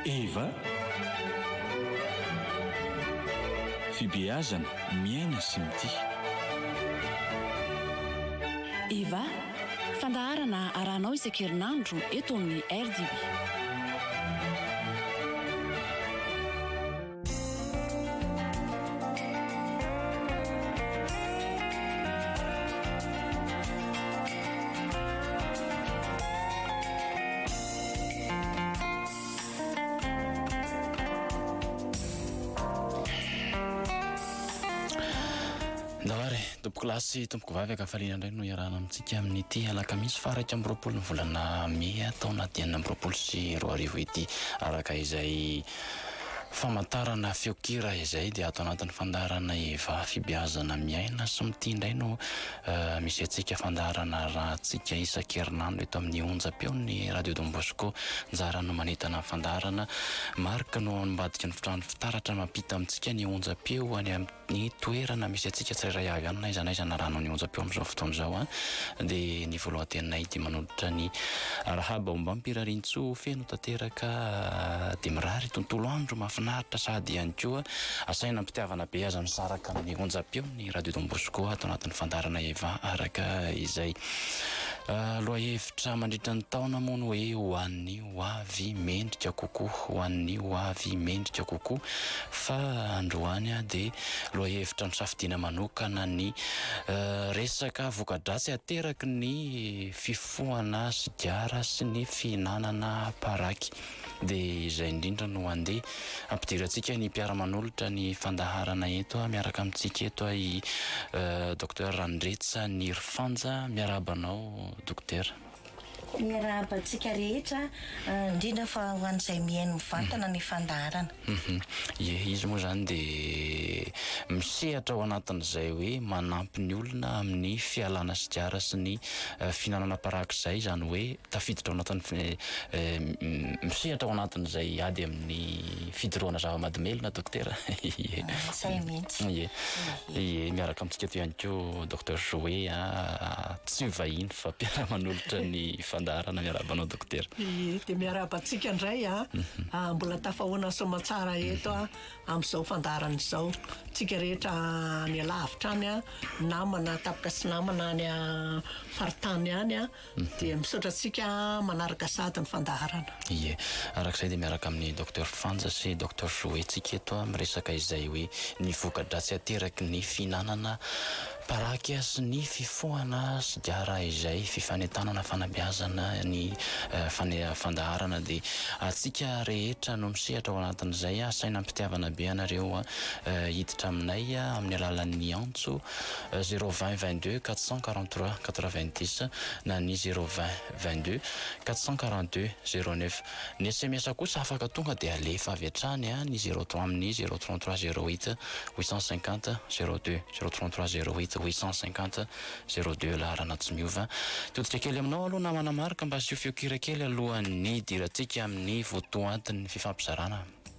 Eva, Fibeazana, miaina sy mitia. Eva, Fandaharana arahanao isan-kerinandro eto amin'ny RDB. Kilasy tompoko vavy akafaliana indray no iarahana amintsika amin'ity alakamisy faraika amby roapolo ny volana mey taona dimy amby roapolo sy roa arivo ity araka izay Famantarana feon-kira izay dia ato anatin'ny fandaharana Eva fibeazana miaina sy mitia indray no misy antsika fandaharana arahantsika isan-kerinandro eto amin'ny onjam-peon'ny Radio Don Bosco anjara no manentana ny fandaharana Marc no ambadiky ny fitaratra mampita amintsika ny onjam-peo any amin'ny Ny toerana misy antsika tsirairay avy any na aiza na aiza na rano ny onjam-peo amin'izao fotoana izao dia ny voalohan-teninay dia manolotra ny Raha baombam-pirarian-tsoa feno tanteraka dia mirary tontolo andro mahafinaritra sady ihany koa asaina am-pitiavana be aza misaraka amin'ny onjam-peo ny Radio Don Bosco ato anatin'ny fandaharana Eva araka izay lohahevitra mandritra ny taona moa no hoe ho an'ny hoavy mendrika kokoa, ho an'ny hoavy mendrika kokoa, fa androany dia lohahevitra nisafidiana manokana ny resaka voka-dratsy ateraky ny fifohana sigara sy ny fihinanana paraky. Dia izay indrindra no handeha hampidirantsika ny mpiara-manolotra ny fandaharana eto miaraka amintsika eto i Docteur Randritsy Nirifanja. Miarahaba anao Dokotera. Miarahaba antsika rehetra, indrindra fa ho an'izay mihaino mivantana ny fandaharana. Ie, izy moa izany dia misehatra ao anatin'izay hoe manampy ny olona amin'ny fialana sigara sy ny fihinanana parak'izay, izany hoe tafiditra ao anatin'ny, misehatra ao anatin'izay ady amin'ny fidorohana zava-mahadomelina, Dokotera. Ie. Izay mihitsy. Ie. Ie, miaraka amintsika eto ihany koa Docteur Joé a, tsy vahiny fa mpiara-manolotra ny fandaharana, miarahaba anao Dokotera. Ie, dia miarahaba antsika indray a, mbola tafahoana ny soamatsara eto amin'izao fandaharana izao, antsika rehetra any alavitra any a, namana, tampoka sy namana any faritany any a. Dia misaotra antsika manaraka sahady ny fandaharana. Ie. Araka izay dia miaraka amin'i Docteur Frantz sy Docteur Joé tsika eto miresaka izay hoe ny voka-dratsy ateraky ny fihinanana paraky sy ny fifohana sigara izay fifanentanana fanabeazana ny fandaharana dia antsika rehetra no misehatra ao anatin'izay asaina am-pitiavana be anareo hiditra aminay amin'ny alalan'ny antso zéro vingt vingt deux quatre cent quarante trois quatre vingt dix na ny zéro vingt vingt deux quatre cent quarante deux zéro neuf. Ny sms kosa afaka tonga dia alefa avy hatrany any zéro trois amin'ny zéro trente trois zéro huit huit cent cinquante zéro deux zéro trente trois zéro huit huit cent cinquante zéro deux laharana tsy miova. Todika kely aminao aloha namana Marc mba asio feokira kely alohan'ny hidirantsika amin'ny votoatin'ny fifampizarana.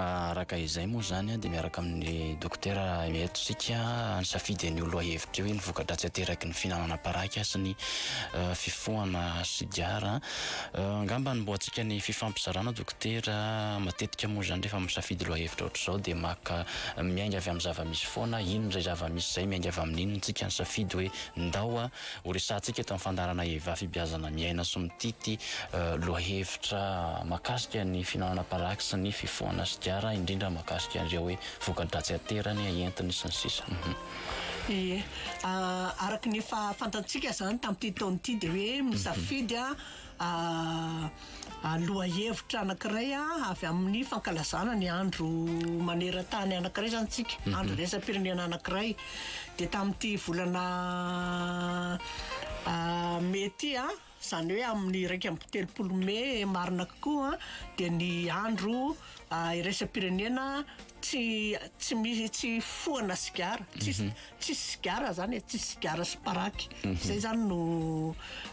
Araka izay moa izany dia miaraka amin'ny dokotera eto isika nisafidy an'io lohahevitra io, ny voka-dratsy ateraky ny fihinanana paraky sy ny fifohana sigara. Angamba hanombohantsika ny fifampizarana dokotera, matetika moa izany rehefa misafidy lohahevitra ohatr'izao dia maka miainga avy amin'ny zava-misy foana, inona izay zava-misy izay miainga avy amin'iny no tsika nisafidy hoe ndao Ho resahantsika eto amin'ny fandaharana Eva fibiazana miaina sy mitity lohahevitra mahakasika ny fihinanana paraky sy ny fifohana sigara, indrindra mahakasika an'ireo hoe voka-dratsy aterany, entiny sy ny sisa. Ie. Araka ny efa fantantsika izany tamin'ity taona ity dia hoe misafidy a Lohahevitra anankiray avy amin'ny fankalazana ny andro maneran-tany anankiray izany isika, mhm. andro iraisam-pirenena anankiray. Dia tamin'ity volana mey ity a, izany hoe amin'ny iraika amby telopolo mey marina kokoa dia ny andro iraisam-pirenena Tsy tsy misy tsy hifohana sigara. Tsisy tsisy sigara izany e, tsisy sigara sy paraky. Izay izany no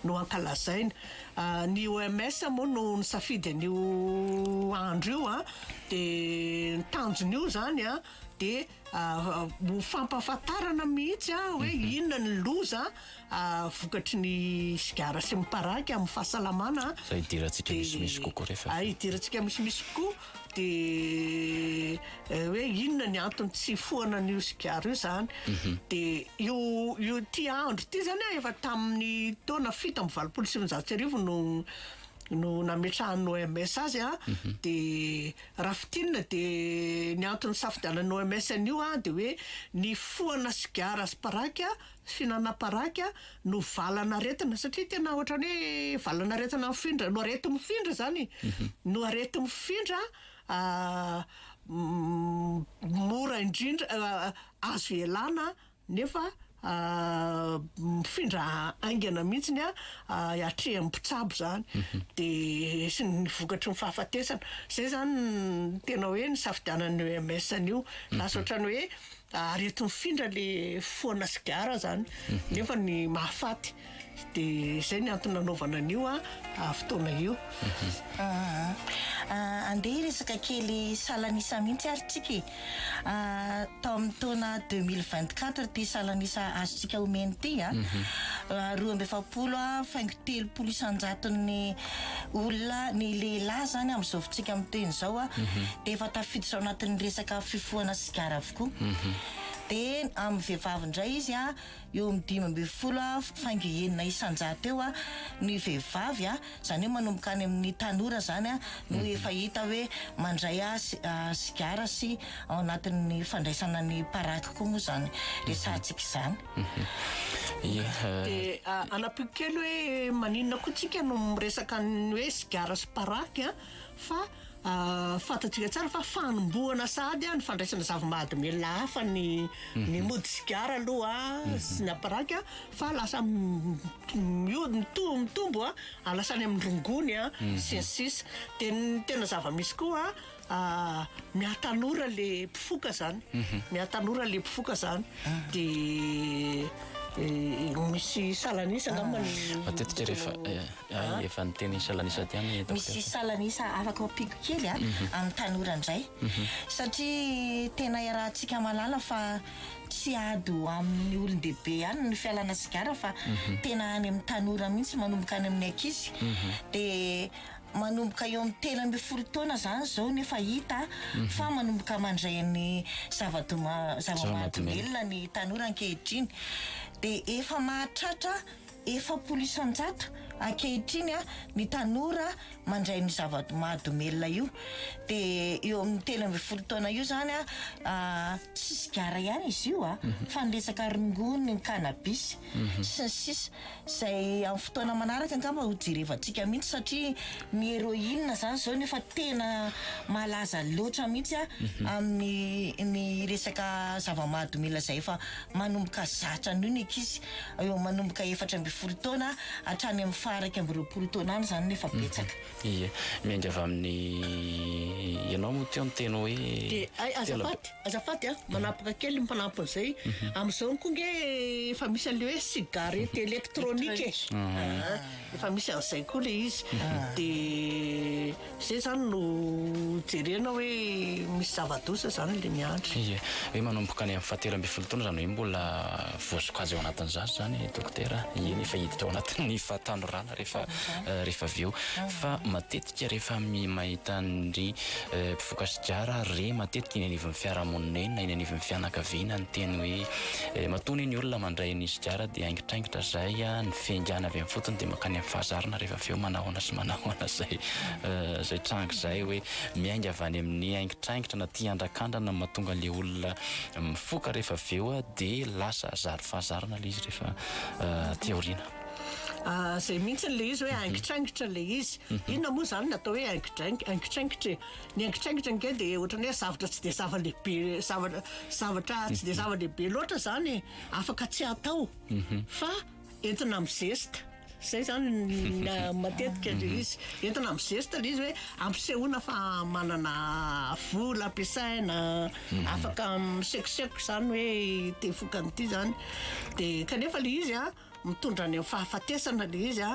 no ankalazaina. Ny OMS moa no nisafidy an'io andro io an, dia ny tanjon'io izany an dia ho fampahafantarana mihitsy hoe inona ny loza vokatry ny sigara sy miparaka amin'ny fahasalamana fa idirantsika misimisy kokoa rehefa ah, idirantsika misimisy kokoa dia eh, hoe inona ny antony tsy foana an'io sigara io zany mhm. dia io io ti andro ty zany ah, efa tamin'ny taona fito amby valopolo sy sivinjato sy arivo no no nametrahan'ny OMS azy a ah, mhm. dia raha fitinina dia ny antony safidianan'ny OMS an'io a ah, dia hoe ny foana sigara sy paraka Fihinanana paraky no valan'aretina satria tena ohatran'ny hoe valan'aretina mifindra no arety mifindra izany e, no arety mifindra mora indrindra azo ialana nefa mifindra haingana mihitsiny hatrehin'ny mpitsabo izany de sy ny vokatry ny fahafatesana, izay izany no tena hoe nisafidianan'ny OMS an'io, lasa ohatran'ny hoe Ary eto mifindra le foana sigara zany nefa ny mahafaty de zay ny antony nanaovana an'io a fotoana io. Andeha hiresaka kely salan'isa mihitsy ary tsika e. Tao amin'ny taona deux mille vingt quatre ity salan'isa azontsika omena ity a. Roa amby efapolo a faingo telopolo isan-jaton'ny olona ny lehilahy zany amin'izao fotoantsika miteny izao a de efa tafiditra ao anatin'ny resaka fifohana sigara. Madagasikara avokoa. Dia amin'ny vehivavy indray izy eo amin'ny dimy ambin'ny folo faingo enina isan-jato eo ny vehivavy, izany hoe manomboka any amin'ny tanora izany no efa hita hoe mandray sigara sy ao anatin'ny fandraisana ny paraky koa moa izany resahantsika izany. Dia hanampiako kely hoe maninona koa isika no miresaka ny hoe sigara sy paraky. fa fantatsika tsara fa fanombohana sahady ny fandraisana zava-mahadomelina hafa ny ny mody sigara aloha sy ny aparaka fa lasa miody mitombo mitombo a lasa any amin'ny rongony a sy ny sisa dia ny tena zava-misy koa mihatanora le mpifoka zany mihatanora le mpifoka zany dia misy salan'isa angamba ny matetika rehefa Hay efa niteny ny salanisa aty any hitako Misy salanisa afaka ampiako kely a amin'ny tanora indray satria tena iarahantsika mahalala fa tsy ady ho amin'ny olon-dehibe ihany ny fialana sigara fa tena any amin'ny tanora mihitsy manomboka any amin'ny ankizy dia manomboka eo amin'ny telo ambin'ny folo taona izany izao ny efa hita fa manomboka mandray ny zava-doa zava-mahadomelina ny tanora ankehitriny dia efa mahatratra Efapolo isan-jato ankehitriny ny tanora mandray ny zava-mahadomelina io. Dia eo amin'ny telo ambin'ny folo taona io izany, tsy sigara ihany izy io fa ny resaka rongony, ny cannabis sy ny sisa. Izay amin'ny fotoana manaraka angamba ho jerevantsika mihitsy satria ny heroine izany izao no efa tena malaza loatra mihitsy amin'ny resaka zava-mahadomelina izay efa. Manomboka zatra anio ny ankizy, eo manomboka efatra ambin'ny folo taona hatrany amin'ny faha iraika amby roapolo taona any izany no efa betsaka. Ie, miainga avy amin'ny, ianao moa teo niteny hoe Dia ay, azafady, azafady an, manapaka kely ny mpanampy an'izay, amin'izao moa koa ange efa misy an'ilay hoe cigarette électronique e, efa misy an'izay koa ilay izy, dia. Zay izany no jerena hoe misy zava-doza izany ilay miandry. Ie, hoe manomboka any amin'ny fahatelo ambin'ny folo taona izany hoe mbola voasokajy ao anatin'ny zaza izany dokotera, eny efa hiditra ao anatin'ny fahatanorana rehefa rehefa avy eo. Fa matetika rehefa mahita an-dry mpifoka sigara re matetika eny anivon'ny fiarahamonina eny na eny anivon'ny fianakaviana ny teny hoe matoa anie ny olona mandray ny sigara dia haingitraingitra izay, ny fiaingàna avy amin'ny fotony dia mankany amin'ny fahazarana rehefa avy eo manahoana sy manahoana izay izay tranga izay hoe miainga avy any amin'ny haingitraingitra na tia handrakandrana mahatonga ilay olona mifoka rehefa avy eo dia lasa zary fahazarana ilay izy rehefa aty aoriana. Izay mihitsy ilay izy hoe haingitraingitra ilay izy. Mhm. Inona moa izany no atao hoe haingitraingitra? Haingitraingitra e. Ny haingitraingitra ange dia ohatran'ny hoe zavatra tsy dia zava-dehibe, zavatra zavatra tsy dia mhm. zava-dehibe loatra izany e. Afaka tsy atao. Mhm. Fa Entina amin'ny zesta. Izay izany ny matetika ilay izy. Entina amin'ny zesta ilay izy hoe ampisehoana fa manana vola ampiasaina, mhm. afaka misekoseko izany hoe te vokan'ity izany. Dia kanefa ilay izy a, mitondra any amin'ny fahafatesana ilay izy a,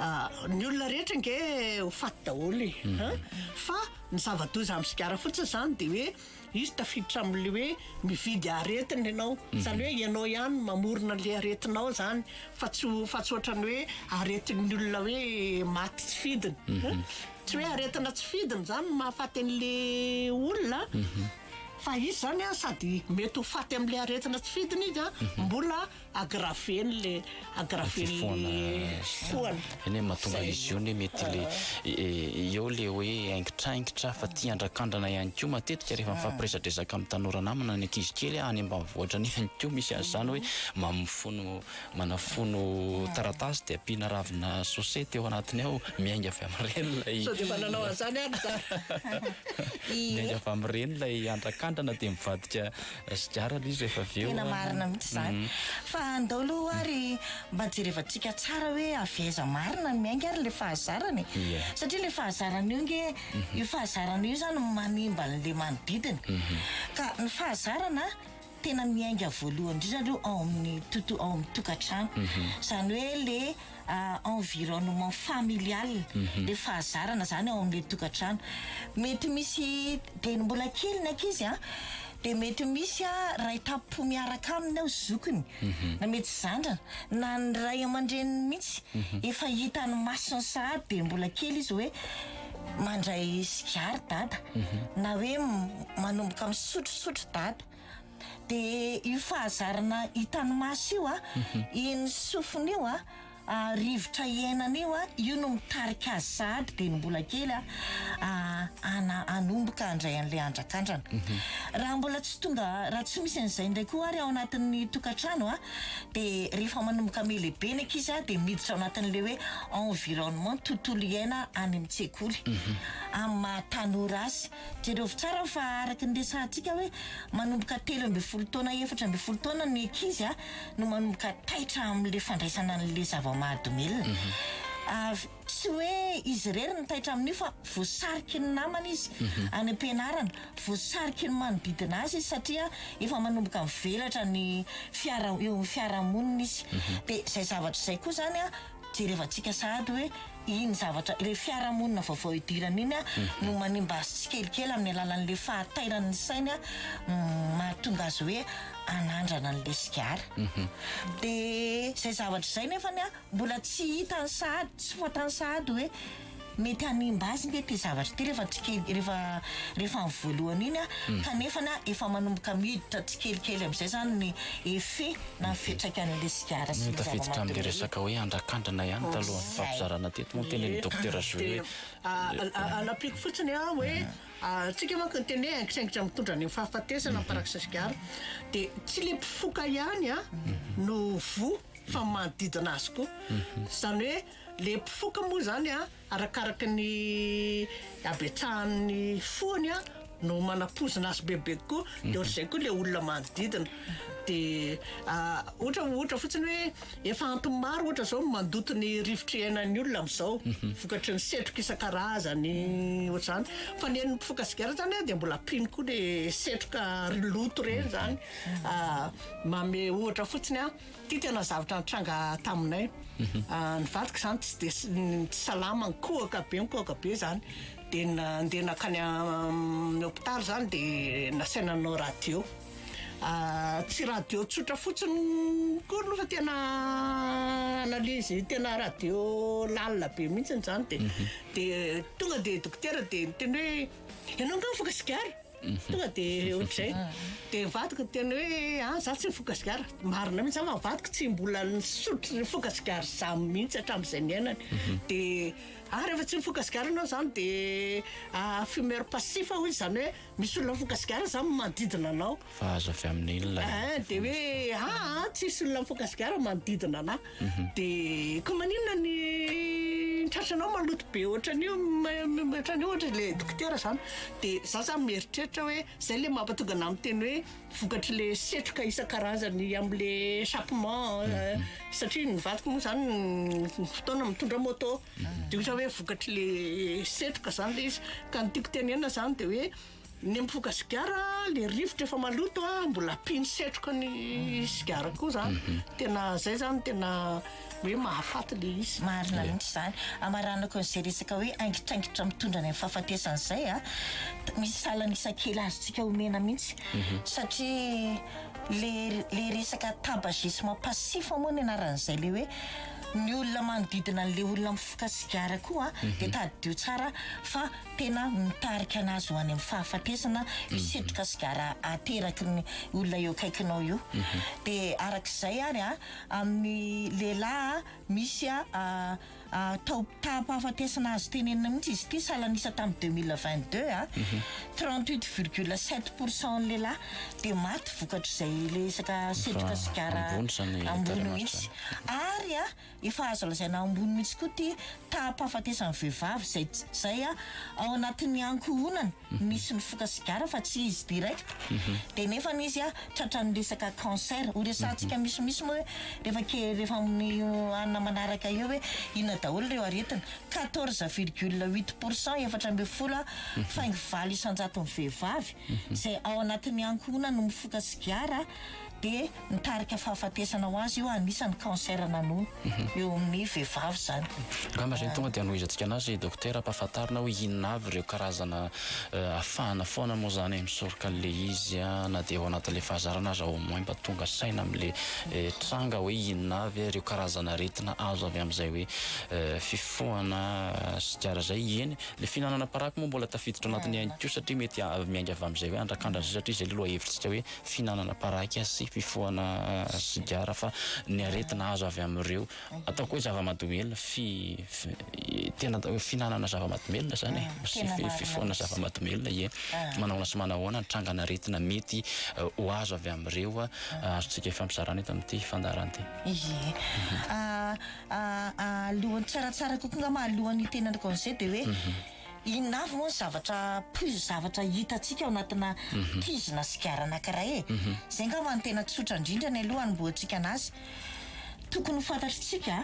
ah, ny olona rehetra nge ho faty daholo e. Mhm. Fa ny zava-doza amin'ny sigara fotsiny izany dia hoe Izy tafiditra amin'ilay hoe mividy aretina ianao, izany hoe ianao ihany no mamorona an'ilay aretinao izany fa tsy ho fa tsy ohatran'ny hoe aretin'ny olona hoe maty tsy fidiny a, tsy hoe aretina tsy fidiny izany no mahafaty an'ilay olona a, fa izy izany a sady mety ho faty amin'ilay aretina tsy fidiny izy a, mbola. agrave-ny le agrave-ny le foana eny e mahatonga izy io ne mety le eo le hoe haingitraingitra fa tia andrakandrana ihany koa matetika rehefa mifampiresadresaka amin'ny tanora namana ny ankizy kely any ambanivohitra any ihany koa misy azy izany hoe mamifono manafono taratasy dia ampiana ravina sosety eo anatiny ao miainga avy amin'ireny ilay sao dia efa nanao an'izany ary za miainga avy amin'ireny ilay andrakandrana dia mivadika Raha sigara aloha izy rehefa avy eo an. Tena marina mihitsy izany. Fa andao aloha ary mba jerevantsika tsara hoe avy aiza marina ny miainga ary ilay fahazarana e. Ie. Satria ilay fahazarana io ange, io fahazarana io izany no manimba an'ilay manodidina. Ka ny fahazarana tena miainga voalohany indrindra aloha ao amin'ny tonto- ao amin'ny tokantrano. Izany hoe ilay. environnement familial le fahazarana zany ao amle tokatrano mety misy de mbola kely ny ankizy a de mety misy a ray tampo miaraka aminy ao zokiny na mety zandra na ny ray aman-dreniny mihitsy efa hitany masony sahady de mbola kely izy hoe mandray sigara dada na hoe manomboka misotrosotro dada dia io fahazarana hitan'ny maso io a, iny sofiny io a, rivotra iainana io a, io no mitarika azy sahady dia ny mbola kely a, ana- hanomboka handray an'ilay andrakandrana. Raha mbola tsy tonga, raha tsy misy an'izay indray koa ary ao anatin'ny tokantrano a, dia rehefa manomboka mihalehibe ny ankizy a, dia miditra ao anatin'ilay hoe environnement, tontolo iaina any amin'ny tsekoly, amin'ny maha tanora azy. Jereo tsara fa araka ny resahantsika hoe manomboka telo ambin'ny folo taona efatra ambin'ny folo taona ny ankizy no manomboka taitra amin'ilay fandraisana an'ilay zava-mahadomelina. Ary tsy hoe izy irery no taitra amin'io fa voasariky ny namany izy any am-pianarana, voasariky ny manodidina azy izy satria efa manomboka mivelatra ny fiara- eo amin'ny fiarahamonina izy. Dia izay zavatra izay koa izany Jerevantsika sahady hoe iny zavatra, ilay fiarahamonina vaovao idirana iny no manimba azy tsikelikely amin'ny alalan'ilay fahatairan'ny ny sainy mahatonga azy hoe hanandrana an'ilay sigara. Dia izay zavatra izay nefany mbola tsy hitan'ny sahady, tsy fantan'ny sahady hoe. Mety hanimba azy nge ty zavatra ty refa tsikely refa refa ny voalohany iny a kanefana efa manomboka miditra tsikelikely amizay zany ny effet na ny fiatraikan'le sigara sy ny zava-manitra rehetra. Tafiditra amle resaka hoe andrakandrana ihany talohan'ny nifampizarana teto moa tena ny Docteur Joe hoe Anapiko fotsiny a hoe tsika manko ny teny hoe aingitraingitra mitondra any amin'ny fahafatesana ny farak'sa sigara de tsy le mpifoka ihany a no voa fa ny manodidina azy koa zany hoe Le mpifoka moa zany a arakaraka ny abetsahan'ny fony a no manapoizina azy bebe kokoa de ohatr'izay koa le olona manodidina de ohatra ohatra fotsiny hoe efa antony maro ohatra zao no mandoto ny rivotry iainan'ny olona am'zao vokatry ny setroka isan-karazany ohatr'zany fa ny an'ny mpifoka sigara zany a de mbola mpino koa le setroka ry loto reny zany manome ohatra fotsiny a. Ity tena zavatra nitranga taminay. Ny vadiko izany tsy dia s- n- tsy salama, nikohaka be nikohaka be izany. Dia n- nandeha nankany amin'ny hôpitaly izany dia nasaina nanao radio. Tsy radio tsotra fotsiny akory aloha fa tena analyse tena radio lalina be mihitsiny izany dia dia tonga dia dokotera dia niteny hoe ianao angamba efa sigara? Tonga dia ohatr'izay dia ny vadiko niteny hoe ah izaho tsy mifoka sigara. Marina mihitsy, izaho fa ny vadiko tsy mbola nisotro nifoka sigara izany mihitsy hatramin'izay niainany. Dia ah rehefa tsy mifoka sigara ianao izany dia ah fumeur passif hoy izany hoe misy olona mifoka sigara izany manodidina anao. Fa azo avy amin'inona ilay? Dia hoe ah ah tsisy olona mifoka sigara manodidina anah. De ko maninona ny tratranao maloto be ohatran'io ohatran'io ohatra le dokotera zany de za zany mieritreritra hoe zay le mampatonga anah miteny hoe vokatry le setroka isan-karazany am'le chapement euh, satria ny vadiko moa zany fotoana mitondra moto de ohatra hoe vokatry le setroka zany le izy ka ny tiako tenenina zany de hoe Ny mifoka sigara le rivotra efa maloto a mbola ampino setroka ny sigara koa zany tena zay zany tena hoe mahafaty le izy. Marina mihitsy zany. Amaranako an'izay resaka hoe aingitraingitra mitondra any amin'ny fahafatesana izay a. Misy salan'ny isa kely azontsika omena mihitsy satria le le resaka tabagisme passif moa ny anaran'izay le hoe ny olona manodidina an'le olona mifoka sigara koa dia tadidio tsara fa tena mitarika anazy ho any amin'ny fahafatesana io setroka sigara ateraky ny olona eo akaikinao io. Dia araka izay ary an, amin'ny lehilahy an, misy an taom-pahafatesana azo tenenina mihitsy izy ity, salan'isa tamin'ny deux mille vingt deux an, trente huit virgule sept pour cent ny lehilahy dia maty vokatr'izay resaka setroka sigara ambony mihitsy. Ary an. Efa azo lazaina ambony mihitsy koa ity taham-pahafatesan'ny vehivavy izay izay ao anatin'ny ankohonany misy ny foka sigara fa tsy izy direct dia nefany izy tratran'ny resaka cancer. Ho resahantsika misimisy moa hoe rehefa ke- rehefa amin'ny hanina manaraka eo hoe inona daholo ireo aretina. Quatorze virgule huit pour cent, efatra ambin'ny folo aho, faingo valo isan-jaton'ny vehivavy izay ao anatin'ny ankohonany no mifoka sigara dia nitarika fahafatesana ho azy io anisany cancer nanono eo amin'ny vehivavy izany. Angaha tonga dia hanohizantsika anazy Dokotera ampahafantarina hoe inona avy ireo karazana afahana foana moa izany e misoroka an'ilay izy na dia ao anatin'ilay fahazarana aza au moins mba tonga saina amin'ilay tranga hoe inona avy ireo karazana aretina azo avy amin'izay hoe fifohana sigara izay, eny ilay fihinanana paraky moa mbola tafiditra ao anatin'ilay ihany koa satria mety miainga avy amin'izay hoe andrakandran'izay satria izay ilay lohahevitsika hoe fihinanana paraky sy fifohana sigara fa ny aretina azo avy amin'ireo ataoko hoe zava-mahadomelina fi tena atao hoe fihinanana zava-mahadomelina zany e sy fifohana zava-mahadomelina ie manahoana sy manahoana ny trangan'aretina mety ho azo avy amin'ireo azontsika ifampizarana eto amin'ity fandaharana ity. Ie alohan'ny tsaratsara kokoa angamba alohan'ny tena anaovana izay dia hoe Inona avy moa ny zavatra plus zavatra hitantsika ao anatina kizy na sigara anankiray e? Izay angamba no tena tsotra indrindra ny aloha hanombohantsika anazy. Tokony ho fantatritsika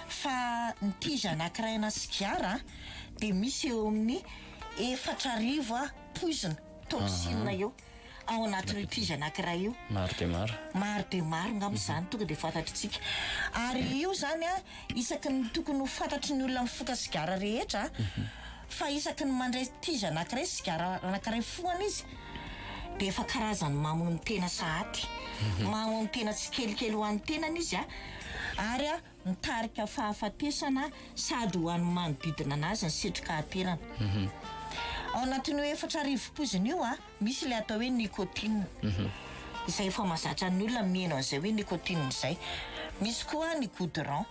fa ny kizy anankiray na sigara dia misy eo amin'ny efatra arivo poizina, toxine, eo. ao anatin'io krizy anankiray io. Maro dia maro. Maro dia maro angamba izany tonga dia fantatritsika. Ary io izany an, isaky ny tokony ho fantatry ny olona mifoka sigara rehetra fa isaky ny mandray krizy anankiray, sigara anankiray fohana izy dia efa karazany mamono tena sahady. Mamono tena tsikelikely ho an'ny tenany izy an. Ary an. mitarika fahafatesana sady ho an'ny manodidina anazy ny setroka aterany. Mhm. Ao anatin'io efatra arivo poizina io a, misy ilay atao hoe nicotine. Mhm. Izay efa mazatra ny olona mihaino an'izay hoe nicotine izay. Misy koa ny goudron.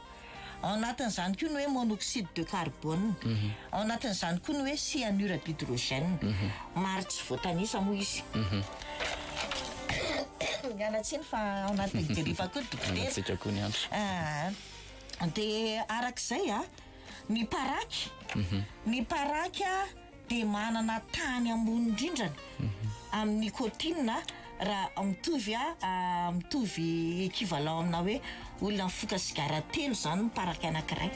Ao anatin'izany koa ny hoe monoxyde de carbone. Mhm. Ao anatin'izany koa ny hoe cyanure d'hydrogène. maro tsy voatanisa moa izy. Miala tsiny fa ao anatin'ny deriva koa dokotera. Antsika koa ny andro. Ah, dia arak'izay a, ny paraky, mhm. ny paraky a dia manana tany ambony indrindrany mhm. amin'ny nikotinina Raha mitovy a mitovy equivalent amina hoe olona mifoka sigara telo izany ny paraky anankiray.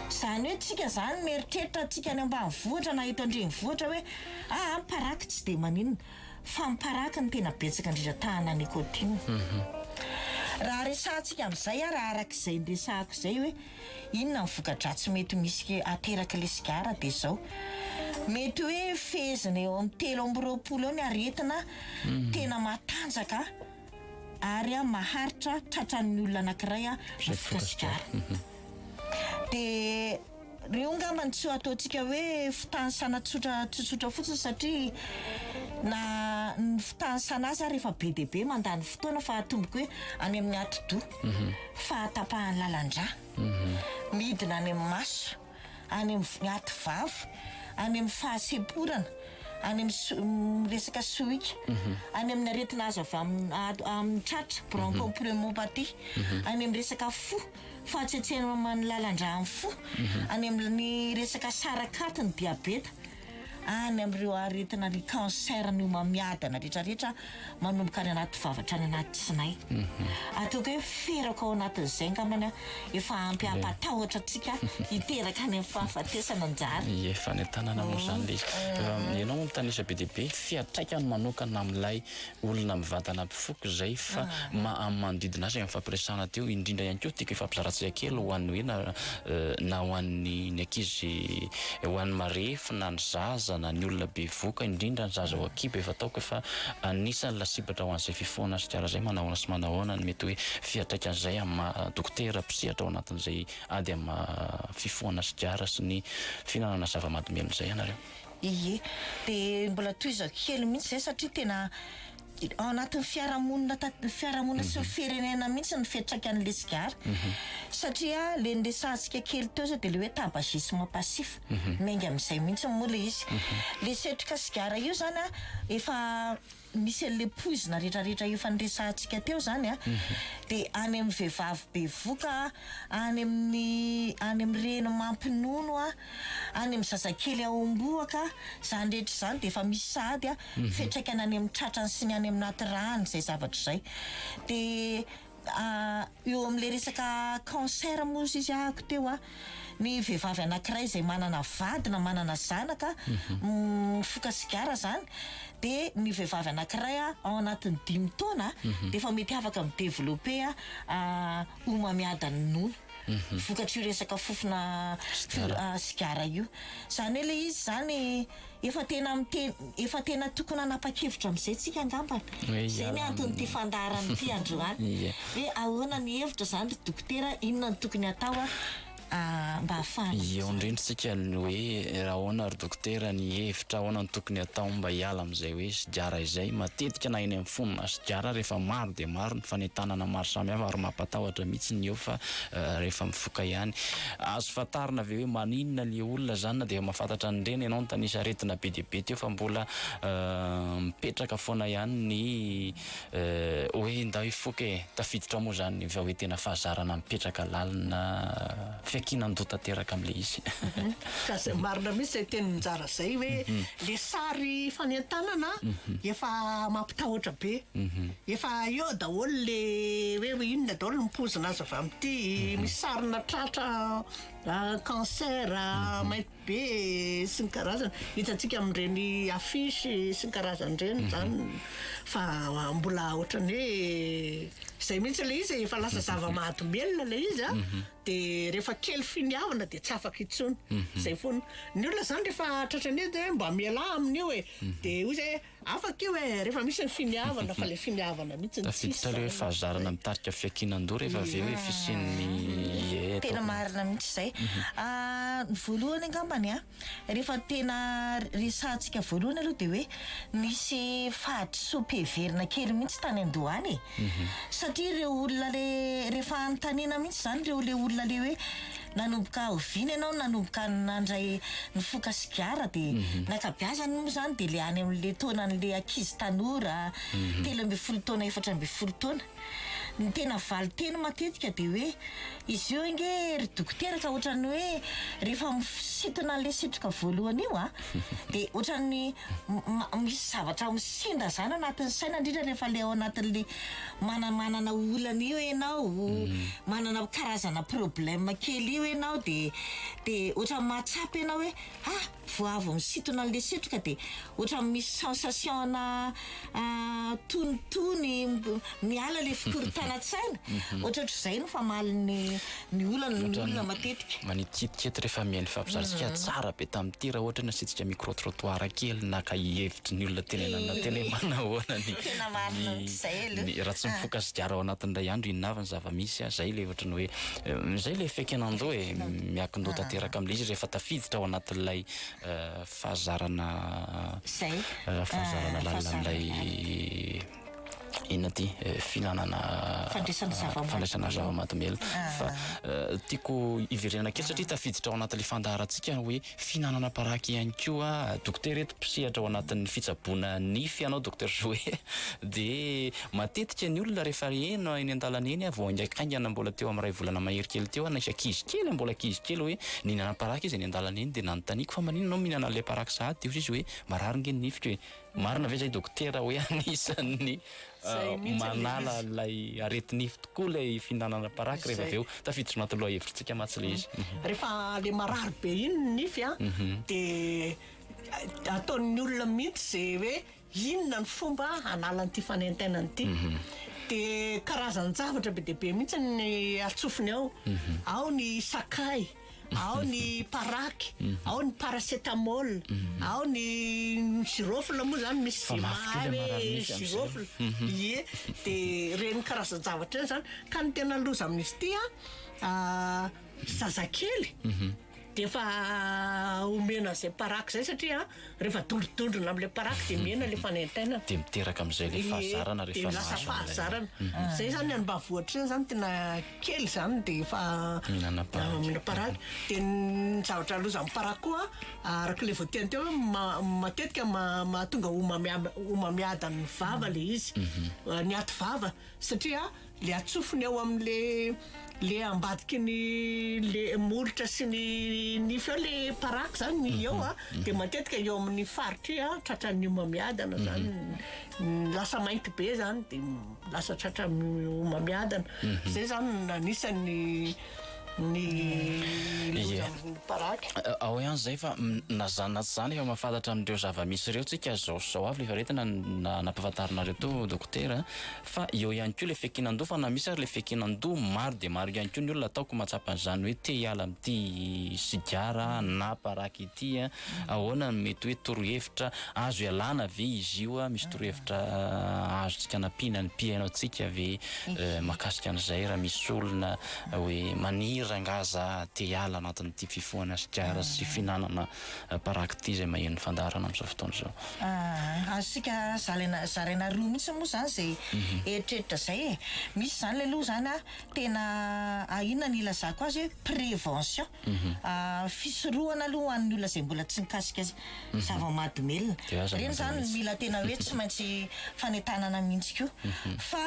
Izany hoe tsika izany mieritreritra tsika any ambanivohitra na eto an-drenivohitra hoe ah ah ny paraky tsy dia maninona fa ny paraky no tena betsaka indrindra tahana nicotine. Raha resahantsika amin'izay a raha araka izay niresahako izay hoe. Inona ny voka-dratsy mety misy aterak'ilay sigara dia izao, mety hoe fehezina eo amin'ny telo amby roapolo eo ny aretina tena matanjaka ary maharitra tratran'ny olona anankiray ny voka sigara. Dia ireo angamba no tsy ho ataontsika hoe fitanisana tsotra tsotsotra fotsiny satria na ny fitanisana azy ary efa be dia be mandany fotoana fa atomboko hoe any amin'ny atidoha. fahatapahan'ny lalan-drà, midina any amin'ny maso, any amin'ny aty vava, any amin'ny fahasemporana, any amin'ny resaka sohika, any amin'ny aretina azo avy amin'ny tratra, bronchopneumopathie, any amin'ny resaka fo, fahatsetseman'ny lalan-drà amin'ny fo, any amin'ny resaka sarakaty ny diabeta. Any amin'ireo aretina ny cancer ny homamiadana retraretra manomboka any anaty vava hatrany anaty tsinay. Ataoko hoe ferako ao anatin'izay angambany efa ampy hampatahotra antsika hiteraka any amin'ny fahafatesana anjara. Efa any an-tanana moa izany ilay izy. Ianao mitanisa be dia be fiantraikany manokana amin'ilay olona mivantana mpifoka izay fa ma amin'ny manodidina azy amin'ny fampiresahana teo indrindra ihany koa tiako hifampizaratsika kely ho an'ny hoe na na ho an'ny ny ankizy ho an'ny marefo na ny zaza na ny olona bevoka indrindra ny zaza ao an-kibo efa ataoko efa anisan'ny lasibatra ho an'izay fifohana sigara izay manahoana sy manahoana ny mety hoe fiantraikany izay amin'ny maha dokotera mpisehatra ao anatin'izay ady amin'ny maha fifohana sigara sy ny fihinanana zava-mahadomelina izay ianareo. Ie. Dia mbola tohizako kely mihitsy izay satria tena ao anatin'ny fiarahamonina tant- ny fiarahamonina sy ny mhm. firenena mihitsy ny fiantraikan'ilay sigara. Mhm. Satria ilay niresahantsika kely teo izay dia ilay hoe tabagisme passif. Mhm. Miainga amin'izay mihitsy moa ilay izy. Ilay setroka sigara io izany an, efa misy an'le poizina retraretra efa niresahantsika teo zany a de any amin'ny vehivavy bevoka a, any amin'ny any amin'ny reny mampinono a, any amin'ny zazakely aombohaka a, zany rehetra zany de efa misy sahady a, fiantraikany any amin'ny tratrany sy ny any amin'ny anaty ràny zay zavatra zay de. Eo amin'ilay resaka cancer moa izy ahako teo an, ny vehivavy anankiray izay manana vady na manana zanaka mifoka sigara izany dia ny vehivavy anankiray ao anatin'ny dimy taona dia efa mety afaka mi-developper homamiadan'ny nono vokatr'io resaka fofona sigara io. Izany hoe ilay izy izany. Efa tena miteny, efa tena tokony hanapa-kevitra amin'izay tsika angambany. Izay ny anton'ity fandaharana ity androany. Hoe ahoana ny hevitra izany ry dokotera, inona no tokony hatao mba hahafahana amin'izany. Eo indrindra tsika ny hoe ahoana ry dokotera ny hevitra, ahoana no tokony hatao mba hiala amin'izay hoe sigara izay. Matetika na eny amin'ny fono na sigara rehefa maro dia maro ny fanentanana maro samihafa ary mampatahotra mihitsy ny eo fa rehefa mifoka ihany. Azo fantarina ve hoe maninona le olona zany na de efa mafantatra an'ireny ianao nitanisa aretina be dia be teo fa mbola mipetraka foana ihany ny hoe ndao hifoka e! Tafiditra ao moa zany va hoe tena fahazarana mipetraka lalina fiankinan-doha tanteraka amle izy? Ka zay marina mihitsy zay teny njara zay hoe le sary fanentanana efa mampitahotra be. Efa eo daholo le hoe hoe inona daholo ny poizina azo avy amin'ity misy sarina tratra cancer, maimbo be sy ny karazany hitantsika amin'ireny affiche sy ny karazany ireny izany fa mbola ohatran'ny hoe izay mihitsy ilay izy e, efa lasa zava-mahadomelina ilay izy a de rehefa kely finiavana de tsy afaka intsony, izay foana. Ny olona izany rehefa tratran'io dia hoe mba mialà amin'io e de hoy zay hoe. Afaka io e, rehefa misy ny finiavana fa ilay finiavana mihitsy no tsisy. Tafiditra ilay hoe fahazarana mitarika fiankinan-doha rehefa avy eo hoe fisian'ny ie eto. Tena marina mihitsy izay. Ny voalohany angambany a, rehefa tena resahantsika voalohany aloha dia hoe nisy fahadisoam-piheverana kely mihitsy tany an-doha any e. Satria ireo olona ilay rehefa anontaniana mihitsy izany ireo ilay olona ilay hoe. Nanomboka oviana ianao no nanomboka nandray ny foka sigara dia ny ankabeazany moa izany dia ilay any amin'ilay taonan'ilay ankizy tanora telo ambin'ny folo taona efatra ambin'ny folo taona. Ny tena valin-teny matetika dia hoe izy io ange ry dokotera ka ohatran'ny hoe rehefa misintona an'ilay setroka voalohany io an dia ohatran'ny misy zavatra misendazana anatin'ny saina indrindra rehefa ilay ao anatin'ilay manamanana olana io ianao mm. manana karazana problème kely io ianao de de ohatran'ny mahatsapa ianao hoe ah voavo misintona an'le setroka de ohatran'ny misy sensation na ah, tonitony miala le fikorontanan-tsaina mm-hmm. ohatraohatr'izay no famalin'ny Ny olana ny olona matetika. Manitititety rehefa mihaino fampizaritsika tsara be tamin'ity raha ohatra hoe nasiantsika micro trottoir kely naka hevitry ny olona tenenana teny hoe manahoana ny Tena marina mihitsy izay aloha ny raha tsy mifoka sigara ao anatin'ny iray andro inona avy ny zava-misy a? Izay ilay ohatra ny hoe izay ilay feken'andoha e! Miankin-doha tanteraka amin'ilay izy rehefa tafiditra ao anatin'ilay fahazarana Izay fahazarana lalina amin'ilay Inona ity filanana fandraisana zava-mahadomelina fa tiako hiverenana kely satria tafiditra ao anatin'ilay fandaharantsika hoe fihinanana paraky ihany koa dokotera eto mpisehatra ao anatin'ny fitsaboana nify ianao dokotera Joe dia matetika ny olona rehefa heno eny an-dalana eny vao haingaikaingana mbola teo amin'ny iray volana mahery kely teo nisy ankizy kely mbola ankizy kely hoe nihinana paraky izy eny an-dalana eny dia nanontaniako fa maninona ianao mihinana an'ilay paraky sahady dia hoy izy hoe marary ange ny nifiko e Marina ve zay dokotera hoe anisan'ny manala ilay aretinify tokoa ilay fihinanana paraky rehefa avy eo tafiditra anaty lohahevitsika mantsy ilay izy. Rehefa ilay marary be iny ny nify a dia ataon'ny olona mihitsy izay hoe inona ny fomba hanalany ity fanentenana ity. Dia karazan-javatra be dia be mihitsy ny atsofony ao. Ao ny sakay. ao ny parac, ao ny paracetamol, ao ny girofle moa zany misy Fa mafy zema kely hoe amarany mihitsy amin'izay. girofle ie de ireny karazan-javatra ireny zany ka ny tena loza amin'izy ity a ah, zazakely de efa omena an'izay parac zay satria Rehefa dondrodondrona amin'ilay paraky dia mihena ilay fanaintainana. Dia miteraka amin'izay ilay fahazarana rehefa mahazo an'ilay. Dia lasa fahazarana. Izay izany any mba voa ohatr'izany izany tena kely izany dia efa mihinana paraky. Dia ny zavatra lozain'ny paraky koa araka ilay voateany teo hoe ma- matetika ma- mahatonga homamiad- homamiadan'ny vava ilay izy. Ny aty vava satria. le atsofony ao amin le le ambadiky ny le molotra sy ny nify ao le paraky zany ny eo a de matetika eo amin ny faritr i a tratran ny homamiadana zany ny lasa mainty be zany de lasa tratran ny homamiadana zay zany ny anisan ny ny loza amin ny paraky ao ihany zay fa na zany na tsy zany efa mahafantatra an ireo zava misy ireo tsika zao sy zao avy le faharetana na nampafantarinareo teo dokotera a. Fa eo ihany koa ilay fiankinan-doha, fa na misy ary ilay fiankinan-doha, maro dia maro ihany koa ny olona ataoko mahatsapa an'izany hoe te hiala amin'ity sigara na paraky ity. Ahoana no mety hoe torohevitra azo ialana ve izy io? Misy torohevitra azontsika anampiana ny mpihaino antsika ve mahakasika an'izay raha misy olona hoe maniry angaha za te hiala anatin'ity fifohana sigara sy fihinanana paraquet izay maheno ny fandaharana amin'izao fotoana izao. Ahh, azontsika zalaina, zaraina roa mihitsy moa izany izay eritreritra izay e. Misy izany ilay loha izany an, tena a inona ny ilazako azy hoe prévention, fisorohana aloha ho an'ny olona izay mbola tsy nikasika zava-mahadomelina. Ireny izany no mila tena hoe tsy maintsy fanentanana mihitsy koa. Fa.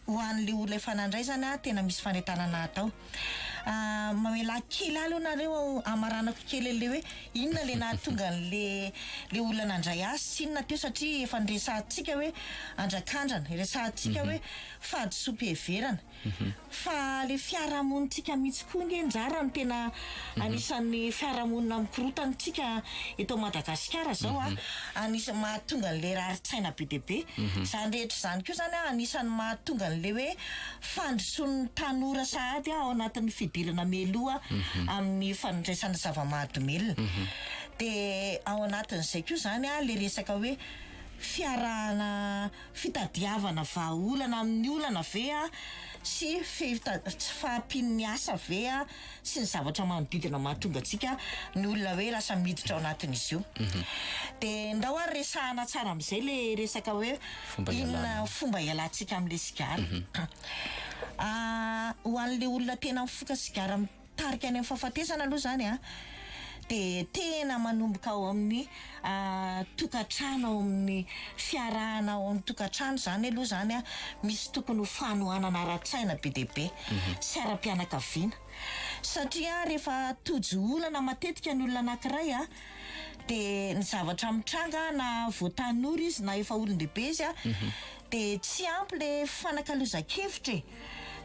ho anle olona efa nandray zany a tena misy fanentanana atao a mamelà kely ahy aloha nareo a hamaranako kely anle hoe inona le nahatonga anle le olona nandray azy sy inona teo satria efa niresahantsika hoe andrakandrana iresahantsika hoe fahadisoam-piheverana fa le fiarahamonintsika mihitsy koa nge ndrara no tena Anisan'ny fiarahamonina mikorontana isika eto Madagasikara izao an, anisan'ny mahatonga an'ilay rarin-tsaina be dia be. Izany rehetra izany koa izany an, anisan'ny mahatonga an'ilay hoe fandrosoan'ny tanora sahady ao anatin'ny fidirana mialoha amin'ny fandraisana zava-mahadomelina. Dia ao anatin'izay koa izany an, ilay resaka hoe fiarahana, fitadiavana vahaolana amin'ny olana ve an, sy fita- tsy fahampian'ny asa ve an. sy ny zavatra manodidina mahatonga antsika ny olona hoe lasa miditra ao anatin'izy io mhm. dia ndao ary resahana tsara amin'izay le resaka hoe inona fomba hialantsika amin'le sigara mhm. ah, ho an'le olona tena mifoka sigara mitarika any amin'ny fahafatesana aloha zany a ah, dia tena manomboka ao amin'ny tokantrano ao amin'ny fiarahana ao amin'ny tokantrano izany aloha izany an, misy tokony ho fanohanana ara-tsaina be dia be sy ara-pianakaviana satria rehefa tojo olana matetika ny olona anankiray an, dia ny zavatra mitranga na voa tanora izy na efa olon-dehibe izy an, De tsy ampy le fanakalozan-kevitra e!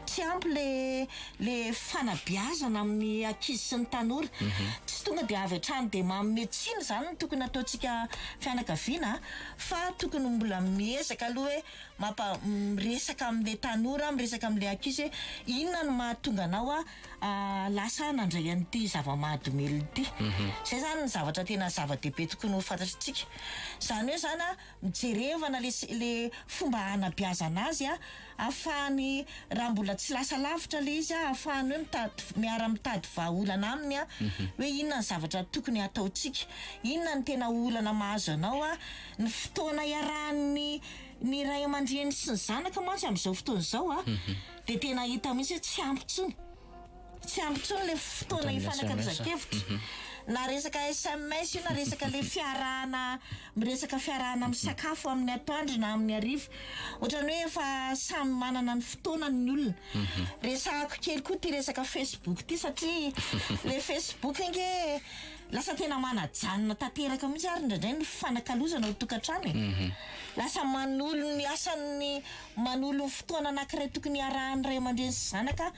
Tsy ampy le le fanabeazana amin'ny ankizy sy ny tanora. Tsy tonga de avy hatrany de manome tsiny zany no tokony ataontsika fianakaviana a! Fa tokony mbola miezaka aloha hoe mampa- miresaka amle tanora, miresaka amle ankizy hoe inona no mahatonga anao a lasa hanandray an'ity zava-mahadomelina ity. Zay zany ny zavatra tena zava-dehibe tokony ho fantatrintsika. Zany hoe zany a! Mijerevana le le fomba hanabeazana azy a, afahany raha mbola tsy lasa lavitra le izy a, afahany hoe mitady miara mitady vahaolana aminy a, hoe inona ny zavatra tokony hataontsika, inona ny tena olana mahazo anao a, ny fotoana iarahan'ny ny ray aman-dreny sy ny zanaka mantsy amin'izao fotoana izao a dia tena hita mihitsy hoe tsy ampy intsony. Tsy ampy intsony ilay fotoana hifanakazan-kevitra. Na resaka sms io na resaka ilay fiarahana miresaka fiarahana misakafo amin'ny atoandro na amin'ny hariva. Ohatran'ny hoe efa samy manana ny fotoanany ny olona. Mhm. Resahako kely koa ity resaka Facebook ity satria ilay Facebook ange lasa tena manajanona tanteraka mihitsy ary indraindray ny fifanakalozana ao an-tokantrano e. Mhm. Lasa manolo ny asan'ny Manolo ny fotoana anankiray tokony hiarahan'ny ray aman-dreny sy zanaka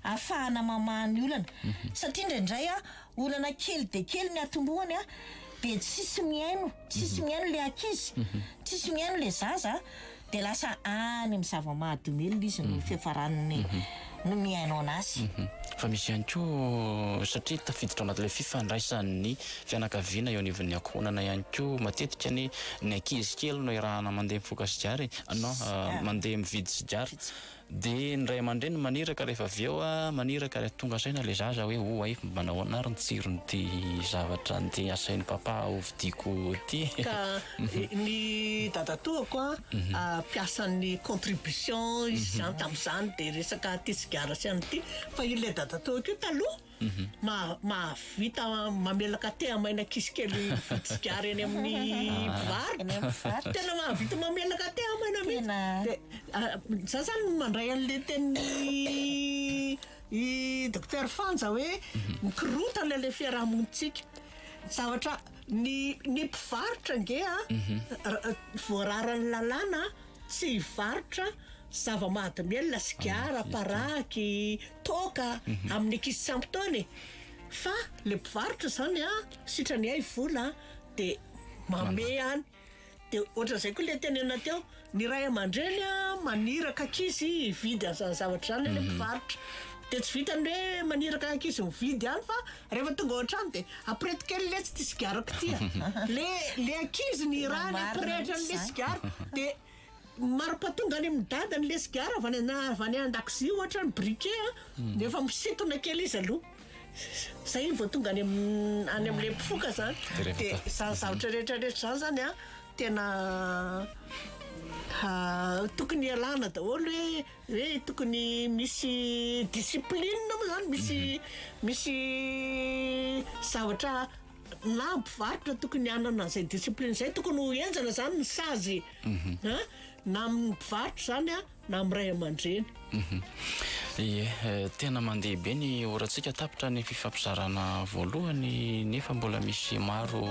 ahafahana mamaha ny olana. Satria indraindray olana kely dia kely ny atombohany dia tsisy mihaino, tsisy mihaino ilay ankizy, tsisy mihaino ilay zaza dia lasa any amin'ny zava-mahadomelina izy no fiafaran'ny no mihaino anazy. Fa misy ihany koa, satria tafiditra ao anatin'ilay fifandraisan'ny fianakaviana eo anivon'ny ankohonana ihany koa matetika ny ny ankizy kely no iarahana mandeha mifoka sigara e, na mandeha mividy sigara, dia ny ray aman-dreny maniraka rehefa avy eo maniraka ary tonga saina ilay zaza hoe oay manahoana ary ny tsiron'ity zavatra andeha asain'i papa hovidiako ity e. Ny dadatoako a, mpiasan'ny contribution izy zany tamin'izany dia resaka ity sigara sy an'ity fa ilay dadatoako io taloha maha- mahavita mamelaka thé amaina ankizy kely mividy sigara eny amin'ny mpivarotra. Eny amin'ny mpivarotra. Tena mahavita mamelaka thé amaina mihitsy. Tena. Dia za zany mandray an'le tenin'i Dokotera Fanja hoe mikorontana ilay fiarahamonintsika. Zavatra Ny ny mpivarotra ange a voararan'ny lalàna tsy hivarotra zava-mahadomelina, sigara, paraky, toaka amin'ny ankizy tsy ampy taona e. Fa le mpivarotra zany a sitrany hay vola de mamehy any. De ohatran'izay koa le tenenina teo, ny ray aman-dreny a maniraka ankizy hividy an'zany zavatra zany anie mpivarotra, de tsy vitan'ny hoe maniraka ankizy mividy ihany fa rehefa tonga ao an-trano de apirety kely letsy ty sigarako ty a, le le ankizy ny ràny apirehitra an'le sigara de Maroka tonga any amin'ny dadany ilay sigara avy any avy any an-dakozia ohatra ny briquet a, dia efa misintona kely izy aloha, izay iny vao tonga any amin'ny any amin'ilay mpifoka izany. Dia rehefa Dia ta- izany zavatra rehetra rehetra izany izany a tena tokony ialana daholo hoe hoe tokony misy discipline moa izany, misy misy zavatra na mpivarotra tokony hanana an'izay discipline izay, tokony ho henjana izany ny sazy a na amin'ny mpivarotra izany a na amin'ny ray aman-dreny. Ie, tena mandeha be ny orantsika tapitra ny fifampizarana voalohany nefa mbola misy maro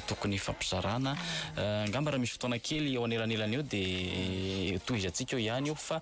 tokony hifampizarana. Angamba raha misy fotoana kely eo anelanelan'io dia tohizantsika eo ihany io fa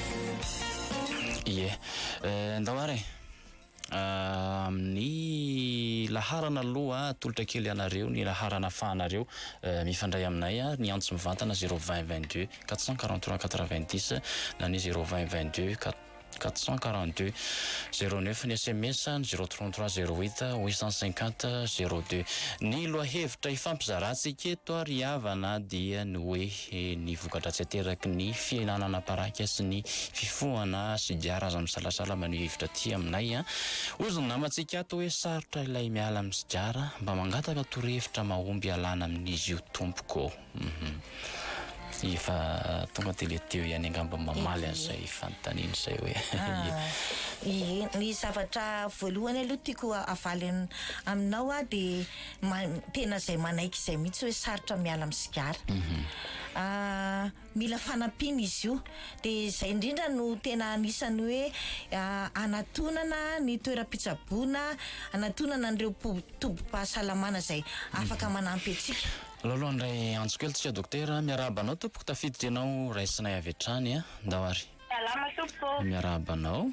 Ie. Eh, ndao ary e. Ah, amin'ny laharana aloha atolotra kely anareo ny laharana ahafahanareo mifandray aminay ary ny antso mivantana zéro vingt vingt deux quatre cent quarante trois quatre vingt dix na ny zéro vingt vingt deux quat- quatre cent quarante deux zéro neuf ny sms ny zéro trente trois zéro huit huit cent cinquante zéro deux ny lohahevitra hifampizarantsika eto ry havana dia ny hoe Dia ny voka-dratsy ateraky ny fihenana anabaraika sy ny fifohana sigara aza misalasala maneho hevitra aty aminay an! Hozy ny namantsika ato hoe sarotra ilay miala amin'ny sigara, mba mangataka torohevitra mahomby hialana amin'izy io tompoko ô! Hum! Efa tonga dia le teo ihany angamba ny mamaly an'izay fanontaniana izay hoe Ny zavatra voalohany aloha tiako havaly aminao aho dia. ma- tena izay manaiky izay mihitsy hoe sarotra miala amin'ny sigara Ah, mila fanampiana izy io dia izay indrindra no tena anisan'ny hoe ah, anatonana ny toeram-pitsaboana anatonana an'ireo po- tobim-pahasalamana izay afaka manampy antsika Lolo handray antso kely tsika dokotera. Miarahaba anao tompoko tafiditra ianao raisinay avy hatrany a. Ndao ary. Salama tompoko. Miarahaba anao.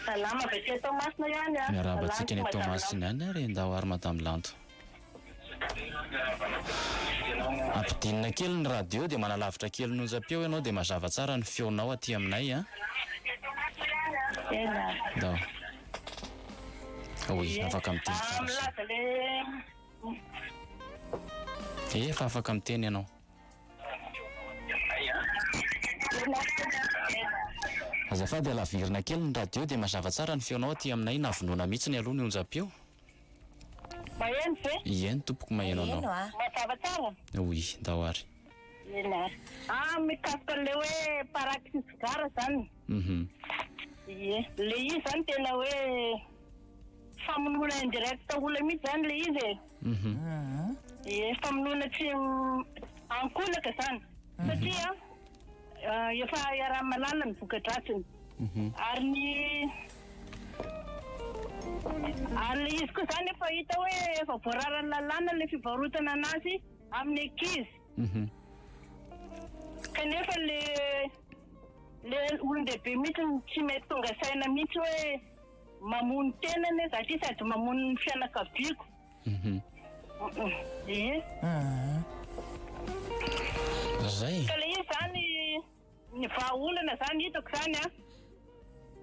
Salama avy aty Toamasina ihany a. Miarahaba antsika any Toamasina any ary ndao ary Madame Lanto. Ampidinina kely ny radio dia manalavitra kely ny onjam-peo ianao dia mazava tsara ny feonao aty aminay a. Tena. Ndao. Oui, afaka miteny Mba milaza le. Efa afaka miteny ianao. Azafady alavirina kely ny radio dia mazava tsara ny feonao aty aminay na vonoina mitsiny aloha ny onjam-peo. Maheno ve? Eny tompoko maheno anao. Maheno ah. Mazava tsara? Oui ndao ary. Eny ary. Ah mikasika an'ilay hoe paraxy sigara zany. Uhum. Ie. Ilay izy zany tena hoe famonoana indirecte olona mitsy zany ilay izy e. Mhm. Ie, famonoana tsy ankolaka izany. Mhm. Satria eh, efa iaraha mahalala ny voka-dratsiny. Mhm. Ary ny ary le izy koa izany efa hita hoe efa voararan'ny lalàna ilay fivarotana anazy amin'ny ankizy. Mhm. Kanefa le le olon-dehibe mihitsy no tsy mety tonga saina mihitsy hoe Mamoha ny tena anie za ty sady mamoha ny fianakaviako. Mhm. Ie. Zay. Ka le izy zany ny vahaolana zany hitako zany a.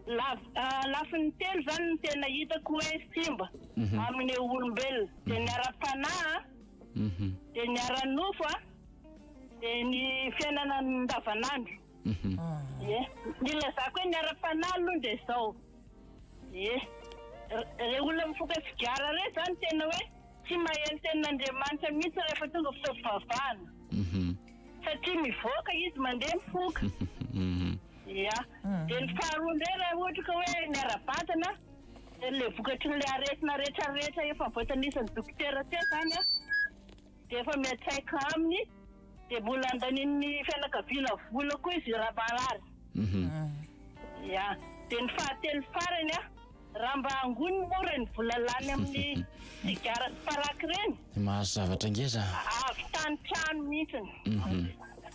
Lav- ah, lafiny telo zany ny tena hitako hoe simba Mhm. amin'ny olombelona. De ny ara-panahy a, Mhm. de ny ara-nofo a, de ny fiainana andavanandro. Ie. Ny ilazako hoe ny ara-panahy aloha dia izao. Ie. Ireo olona mifoka sigara ireo izany tena hoe tsy mahay ny tenin'Andriamanitra mihitsy rehefa tonga fotoam-pivavahana. Satria mivoaka izy mandeha mifoka. Ia. Dia ny faharoa indray raha ohatra ka hoe ny ara-batana dia ilay vokatry ilay aretina rehetra rehetra efa voatanisa ny dokotera teo izany an. dia efa miantraika aminy dia mbola andanian'ny fianakaviana vola koa izy raha marary ya dia ny fahatelo farany a raha mba angony moa ireny vola lany amin'ny sigara sy paraky ireny mahazo zavatra ngeza avy tany trano mihitsiny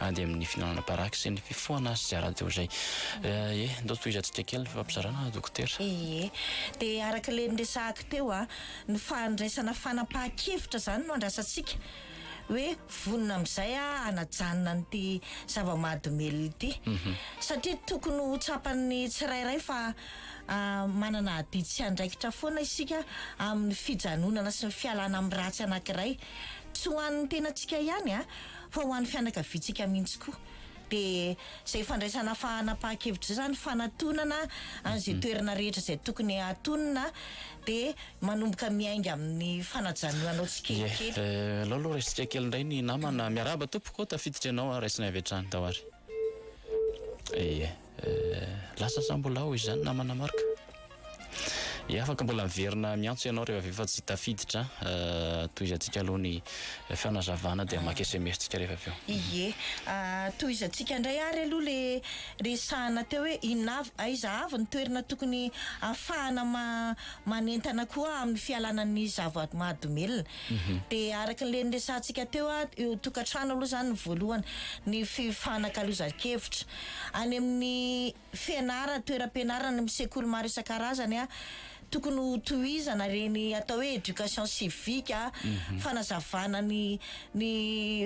ady amin'ny fihinanam-paraky sy ny fifohana sigara-deo izay. Ee, ndao tohizantsika kely ny fifampizarana Dokotera. Ee, dia araka ilay niresahako teo an, ny fandraisana fanapahan-kevitra izany no andrasantsika, hoe vonona amin'izay aho hanajanona an'ity zava-mahadomelina ity. Satria tokony ho tsapan'ny tsirairay fa manana adidy sy andraikitra foana isika amin'ny fijanonana sy ny fialana amin'ny ratsy anankiray. Tsy ho an'ny tenantsika ihany an, fa ho an'ny fianakaviantsika mihitsy koa. Dia izay fandraisana fahanam-pahan-kevitra izay izany, fanatonana an'izay toerana rehetra izay tokony hatonina, dia manomboka miainga amin'ny fanajanonanao tsikelikely. Aleo aloha raisitsika kely indray ny namana. Miarahaba tompoko, tafiditra ianao, raisinay avy hatrany, Tawari. Ye. Lasa sa mbola ao izany namana Marc? Ye afaka mbola miverina miantso ianao rehefa avy eo fa tsy tafiditra an. Tohizantsika aloha ny fanazavana dia maka sms tsika rehefa avy eo. Ye. Tohizantsika indray ary aloha le resahana teo hoe inona avy aiza avy ny toerana tokony afahana ma- manentana koa amin'ny fialana ny zava-mahadomelina. Dia araka ilay niresahantsika teo a, eo tokantrano aloha izany ny voalohany, ny fifanakalozan-kevitra. Any amin'ny fianarana, toeram-pianarana, any amin'ny sekoly maro isan-karazany a, tokony ho tohizana ireny atao hoe éducation civique, fanazavana ny ny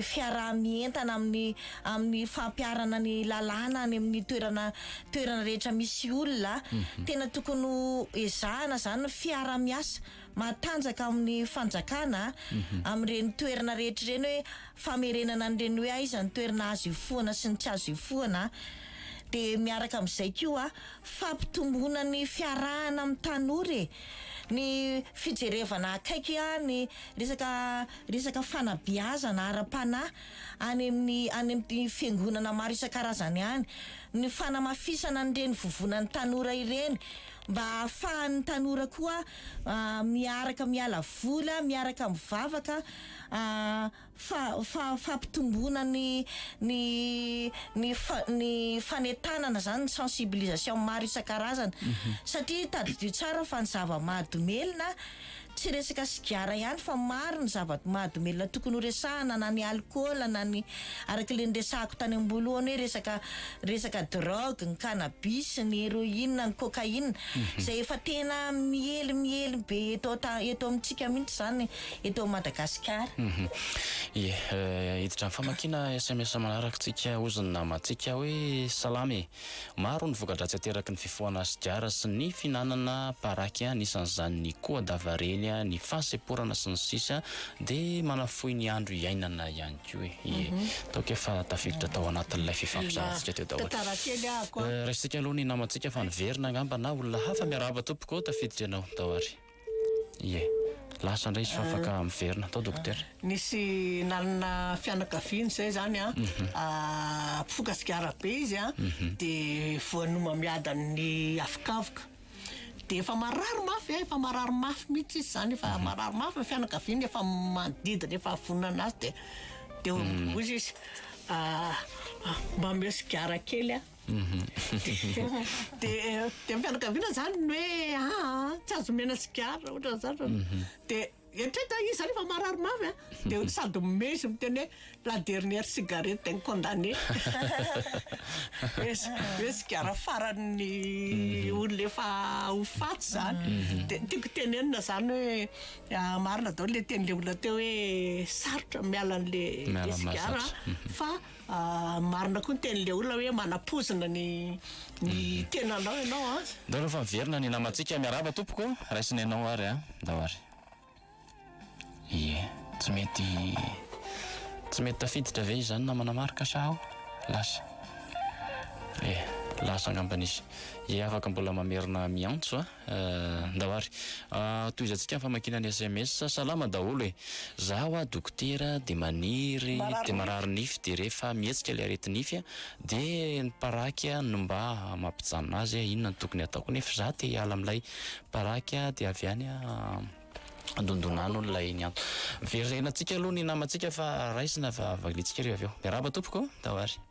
fiaraha-mientana amin'ny amin'ny fampiharana ny lalàna any amin'ny toerana toerana rehetra misy olona. Tena tokony ho ezahana izany ny fiaraha-miasa matanjaka amin'ny fanjakana amin'ireny toerana rehetra ireny hoe famerenana an'ireny hoe aiza ny toerana azo ifohana sy ny tsy azo ifohana dia miaraka amin'izay koa fampitomboana ny fiarahana amin'ny tanora e ny fijerevana akaiky ny resaka resaka fanabeazana ara-panahy any amin'ny any amin'ny fiangonana maro isan-karazany any ny fanamafisana an'ireny vovonan'ny tanora ireny mba hahafahan'ny tanora koa miaraka miala vola, miaraka mivavaka fa fa fampitomboana ny ny ny ny fanentanana izany ny sensibilisation maro isan-karazany satria tadidio tsara fa ny zava-mahadomelina tsy resaka sigara ihany fa maro ny zava-mahadomelina tokony ho resahana na ny alikaola na ny araka ilay niresahako tany amboalohany hoe resaka resaka drogue, ny cannabis, ny héroïne, ny cocaïne izay efa tena miely miely be eto eto amintsika mihitsy izany eto Madagasikara. Ie, hiditra amin'ny famakiana sms manaraka tsika hozy ny namantsika hoe salama e! Maro ny voka-dratsy ateraky ny fifohana sigara sy ny fihinanana paraky anisan'izany ny koa davareny, ny fahasemporana sy ny sisa dia manafohy ny andro iainana ihany koa e. Ie. Ataoko efa tafiditra tao anatin'ilay fifampizarantsika teo daholo. Tantara kely aho ko a. Raisintsika aloha ny namantsika fa niverina angamba na olona hafa. Miarahaba tompoko ô, tafiditra ianao tao ary. Ie. Lasa indray izy fa afaka miverina. Tao dokotera. Nisy nanana fianakaviana izay izany a, mpifoka sigara be izy a, dia voan'omamiadan'ny afokavoka. Dia efa marary mafy, efa marary mafy mihitsy izy izany, efa marary mafy ny fianakaviany, efa manodidina, efa vonona azy dia dia mm. hoy izy ah, ah, mba omeo sigara kely a. Mhm. Dia dia ny fianakaviana izany ny hoe ah, ah, tsy azo omena sigara, ohatra izany. Mhm. Dia Eritrereto iza rehefa marary mafy a de ony sady mimehy sy miteny hoe la dernière cigarette d'un condamné hoe sigara faran'ny olona efa ho faty zany de tiako tenenina zany hoe marina daholo le tenin'le olona teo hoe sarotra miala an'le sigara fa Marina koa ny tenin'ilay olona hoe manapozina ny ny tenanao ianao an. Ndao aloha fa miverina ny namantsika, miarahaba tompoko, raisina ianao ary an, ndao ary. Ie, tsy mety tsy mety tafiditra ve izany namana Marc sa ao? Lasa. Ie, lasa angambany izy. Ie, afaka mbola mamerina miantso an. Ndao ary tohizantsika ny famakiana ny sms. Salama daholo e! Za hoa dokotera de maniry de marary nify de rehefa mihetsika le areti nify de ny paraky no mba mampijanona azy a inona no tokony ataoko nefa za te hiala amilay paraky a de avy any dondona any olona eny an. Very renantsika aloha ny namantsika fa raisina fa valiantsika re avy eo. Miarahaba tompoko. Ndao ary.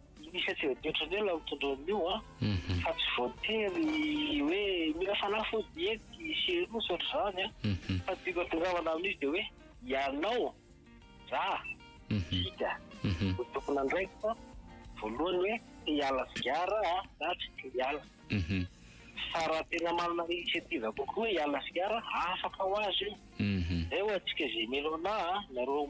Misy atsy toetra ny olona mitondra an'io a, mhm. fa tsy voatery hoe mila fanafody ety sy eroa sy ohatr'izany a, mhm. fa dika tongavana amin'izy dia hoe ianao za hita mhm. ho tompon'andraikitra voalohany hoe te hiala sigara a na tsy te hiala fa raha tena manana initiative kokoa hoe hiala sigara afaka ho azy io zay ho antsika zay mino anah nareo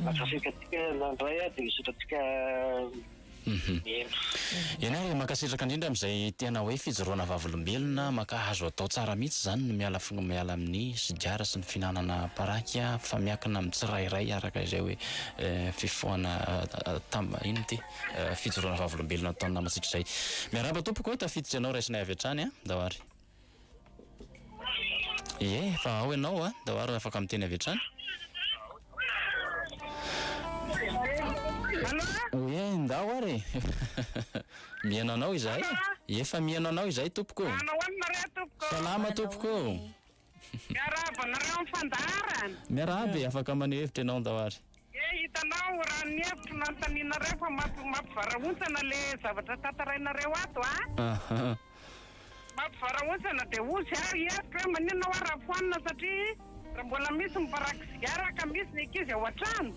Mankasitratsika nandray a, dia misaotra antsika Mihaino. Eny ary mankasitraka indrindra amin'izay tena hoe fijoroana vavolombelona mankahazo atao tsara mihitsy izany ny miala miala amin'ny sigara sy ny fihinanana paraky a fa miankina amin'ny tsirairay araka izay hoe fifohana tam inona ity fijoroana vavolombelona ataon'ny namantsika izay. Miarahaba tompoko o, tafiditra ianao raisinay avy hatrany an, ndao ary. Ie, fa ao ianao a, ndao ary afaka miteny avy hatrany. Ie, ndao ary e. Mihaino anao izahay. Efa mihaino anao izahay tompoko. Manao ahoana nareo tompoko. Salama tompoko. Miarahaba anareo amin'ny fandaharana. Miarahaba e, afaka maneho hevitra ianao ndao ary. Dia hitanao raha ny hevitro nanontanianareo fa mampivarahontsana le zavatra tantarainareo ato a! Ahaa. Mampivarahontsana dia hoy zay aho hevitro hoe maninona hoa raha foanina satria raha mbola misy miparaky sigara ka misy ny ankizy ao an-trano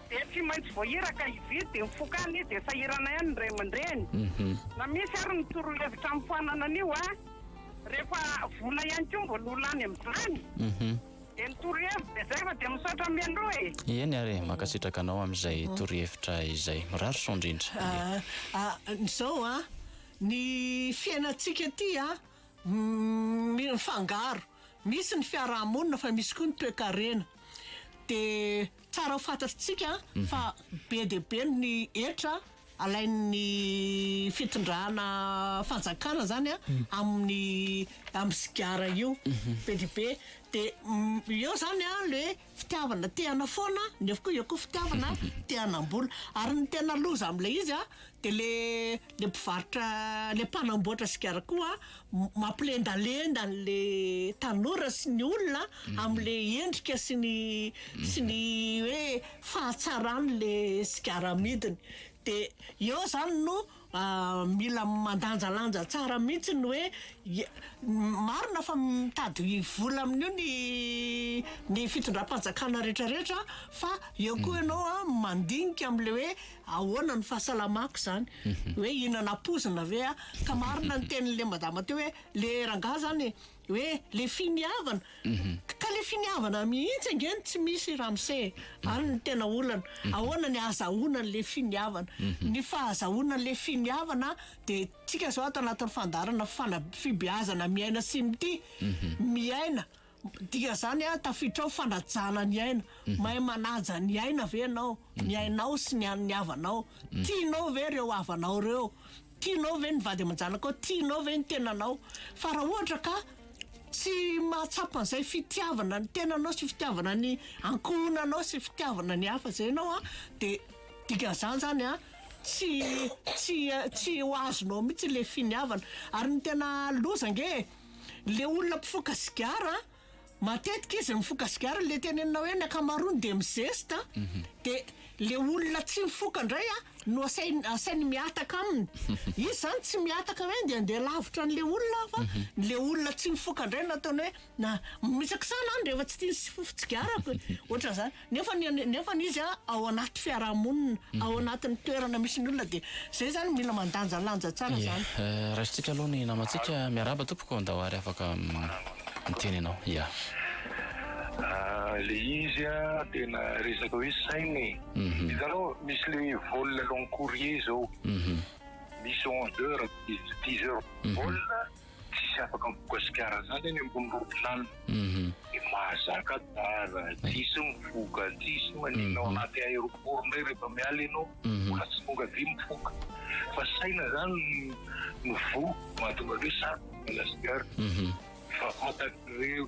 dia tsy maintsy voahiraka hividy dia mifokana izy dia sahirana ihany ny ray aman-dreny. Na misy ary ny torohevitra amin'ny foanana an'io a! Rehefa vola ihany koa mbola ho lany amin'izany. Eny torohevitra dia izay fa dia misaotra mialoha e. Eny ary e, mankasitraka anao amin'izay torohevitra izay. Mirary soa indrindra anie. Ahh izao an, ny fiainantsika ity an, mifangaro, misy ny fiaraha-monina fa misy koa ny toekarena, dia tsara ho fantatritsika fa be dia be ny hetra Alain'ny fitondrana fanjakana zany a amin'ny amin'ny sigara io be dia be dia eo zany a le fitiavana te hanao foana nefa koa eo koa fitiavana te hanam-bola ary ny tena loza amin'ilay izy a de le le mpivarotra le mpanamboatra sigara koa Mampilendalenda an'le tanora sy ny olona amle endrika sy ny sy ny hoe fahatsaran'le sigara amidiny de eo zany no mila mandanjalanja tsara mihitsy ny hoe marina fa mitady vola amin'io ny ny fitondram-panjakana retraretra fa eo koa ianao mandinika amle hoe ahoana ny fahasalamako zany hoe hinana pozina ve ah ka marina ny tenin'le madama teo hoe le rangahy zany hoe le finiavana ka le finiavana mihitsy ange no tsy misy ramose e any ny tena olana ahoana ny ahazahoana an'le finiavana ny fahazahoana an'le finiavana de tsika zao ato anatin'ny fandaharana fana- fibeazana miaina sy mitia miaina Dia zany ah tafiditra ao fanajana ny aina, mahay manaja ny aina ve ianao, ny ainao sy ny an'ny havanao, tianao ve ireo havanao ireo, tianao ve ny vady aman-janakao, tianao ve ny tenanao, fa raha ohatra ka tsy mahatsapa an'izay fitiavana ny tenanao sy fitiavana ny ankohonanao sy fitiavana ny hafa zay ianao ah de dikan'izany zany ah tsy tsy tsy ho azonao mihitsy le finiavana, ary ny tena loza ange e. le olona mpifoka sigara matetika izy mifoka sigara le tenenina hoe ny ankamaroany de mizesta mhm. de le olona tsy mifoka ndray a no asainy asainy miataka aminy izy zany tsy miataka hoe de andeha lavitra an'le olona fa mhm. le olona tsy mifoka ndray nataony hoe na mitsakisana any rehefa tsy tia ny sifofitsigarako ohatran'zany Nefa ny nefa ny izy ao anaty fiarahamonina, ao anatin'ny toerana misy ny olona dia izay izany mila mandanjalanja tsara izany. Yah, raisintsika aloha ny namantsika. Miarahaba tompoko, andao ary afaka miteny ianao. Yah. Le izy tena resaka hoe saina e. Hitanao misy le vol long courrier zao. Misy onze heures, dix heures vol. Tsisy afaka mivokasikiara zany any ambony ropilanina de mahazaka dara ty sy mivoka aty sy manina ao anaty aeroport ndray rehefa miala enao mbola tsy tonga aty mivoka fa saina zany no voa mahatonga hoe sarotra ny Madagasikara fa fantatr'ireo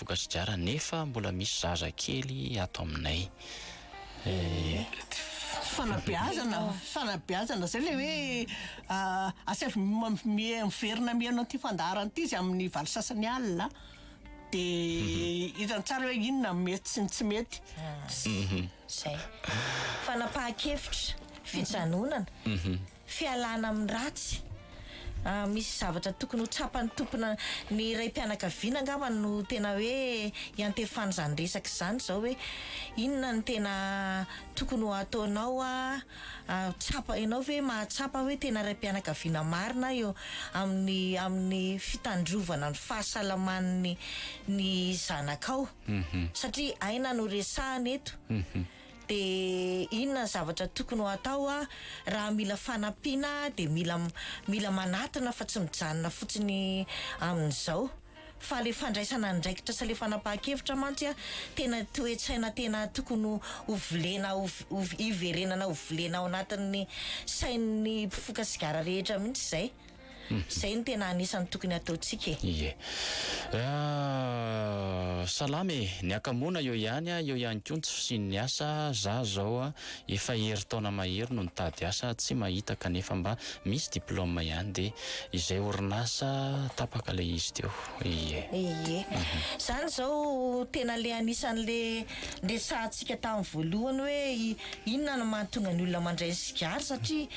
Bokasigara nefa mbola misy zaza kely ato aminay eh. Fanabeazana, fanabeazana izay ilay hoe asaivo miverina mihaino an'ity fandaharana ity izy amin'ny valo sasany alina dia hitany tsara hoe inona no mety sy ny tsy mety. Izay. Fanapahan-kevitra, fijanonana. Fialana amin'ny ratsy. Misy zavatra tokony ho tsapan'ny tompona ny raim-pianakaviana angamba no tena hoe iantefana izany resaka izany izao hoe inona no tena tokony ho ataonao tsapa ianao ve mahatsapa hoe tena raim-pianakaviana marina eo amin'ny amin'ny fitandrovana ny fahasalaman'ny ny zanakao satria aina no resahana eto. Dia inona ny zavatra tokony ho atao aho? Raha mila fanampiana aho dia mila mila manatona fa tsy mijanona fotsiny amin'izao. Fa ilay fandraisana andraikitra sy ilay fanapahan-kevitra mantsy tena toe-tsaina tena tokony ho volena ho hiverenana ho volena ao anatin'ny sain'ny mpifoka sigara rehetra mihitsy izay. Izay no tena anisan'ny tokony ataontsika e. Ie. Salama e! Ny akamoana eo ihany a, eo ihany koa ny tsy fisian'ny asa, za zao a efa herintaona mahery no nitady asa tsy mahita kanefa mba misy diploma ihany dia izay orinasa tapaka ilay izy teo. Ie. Ie. Izany izao tena le anisan'le niresahantsika tamin'ny voalohany hoe inona no mahatonga ny olona mandray ny sigara satria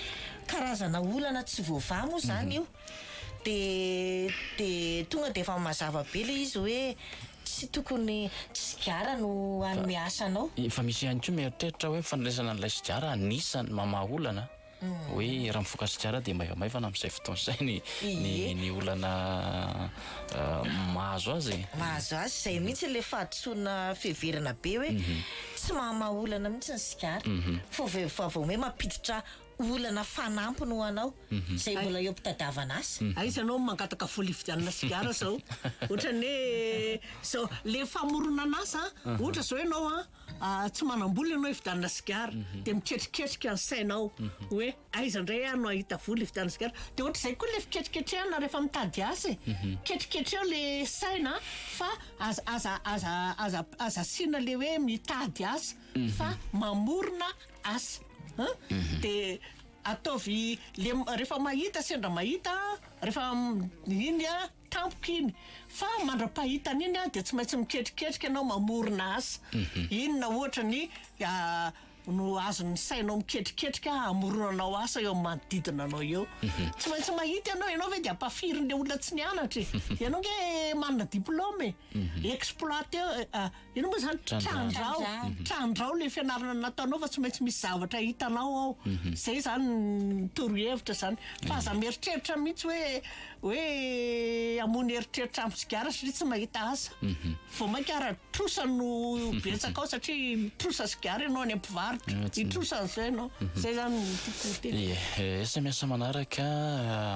karazana olana tsy voavaha moa izany io dia dia tonga dia efa mazava be ilay izy hoe tsy tokony tsy sigara no hanome asa anao. Efa misy ihany koa mieritreritra hoe fandraisana an'ilay sigara anisan'ny mamaha olana hoe raha mifoka sigara dia maivamaivana amin'izay fotoana izay ny ny ny olana mahazo azy e. Mahazo azy, izay mihitsy ilay fahadisoana fiheverana be hoe tsy mahamaha olana mihitsy ny sigara fa vao vao hoe mampiditra olana fanampiny ho anao izay mbola eo am-pitadavan'asa. Aiza anao no mangataka vola hividianana sigara izao? Ohatran'ny hoe izao, ilay famoronan'asa an, ohatra izao ianao an, tsy manam-bola ianao hividianana sigara, dia miketriketrika ny sainao hoe aiza indray aho no hahita vola hividianana sigara? Dia ohatr'izay koa ilay fiketriketrehana rehefa mitady asa e, ketriketreho ilay saina fa aza aza aza aza aza asiana ilay hoe mitady asa fa mamorona asa an dia ataovy le rehefa mahita sendra mahita rehefa iny an tampoka iny fa mandra-pahitana iny an dia tsy maintsy miketriketrika ianao mamorona asa inona ohatra ny no azon'ny sainao miketriketrika hamoronanao asa eo amin'ny manodidina anao eo tsy maintsy mahita ianao ianao ve dia ampafirin'ilay olona tsy nianatra e ianao nge manana diploma e exploiter Inona moa izany? Trandraho. Trandraho ilay fianarana nataonao fa tsy maintsy misy zavatra hitanao ao. Izay izany ny torohevitra izany. Fa aza mieritreritra mihitsy hoe hoe hamono eritreritra amin'ny sigara satria tsy mahita asa. Vao mainka ara-trosa no betsaka ao satria mitrosa sigara ianao any am-pivarotra. Hitrosa an'izay ianao. Izay izany no tiako ho teny. Ie, sms manaraka,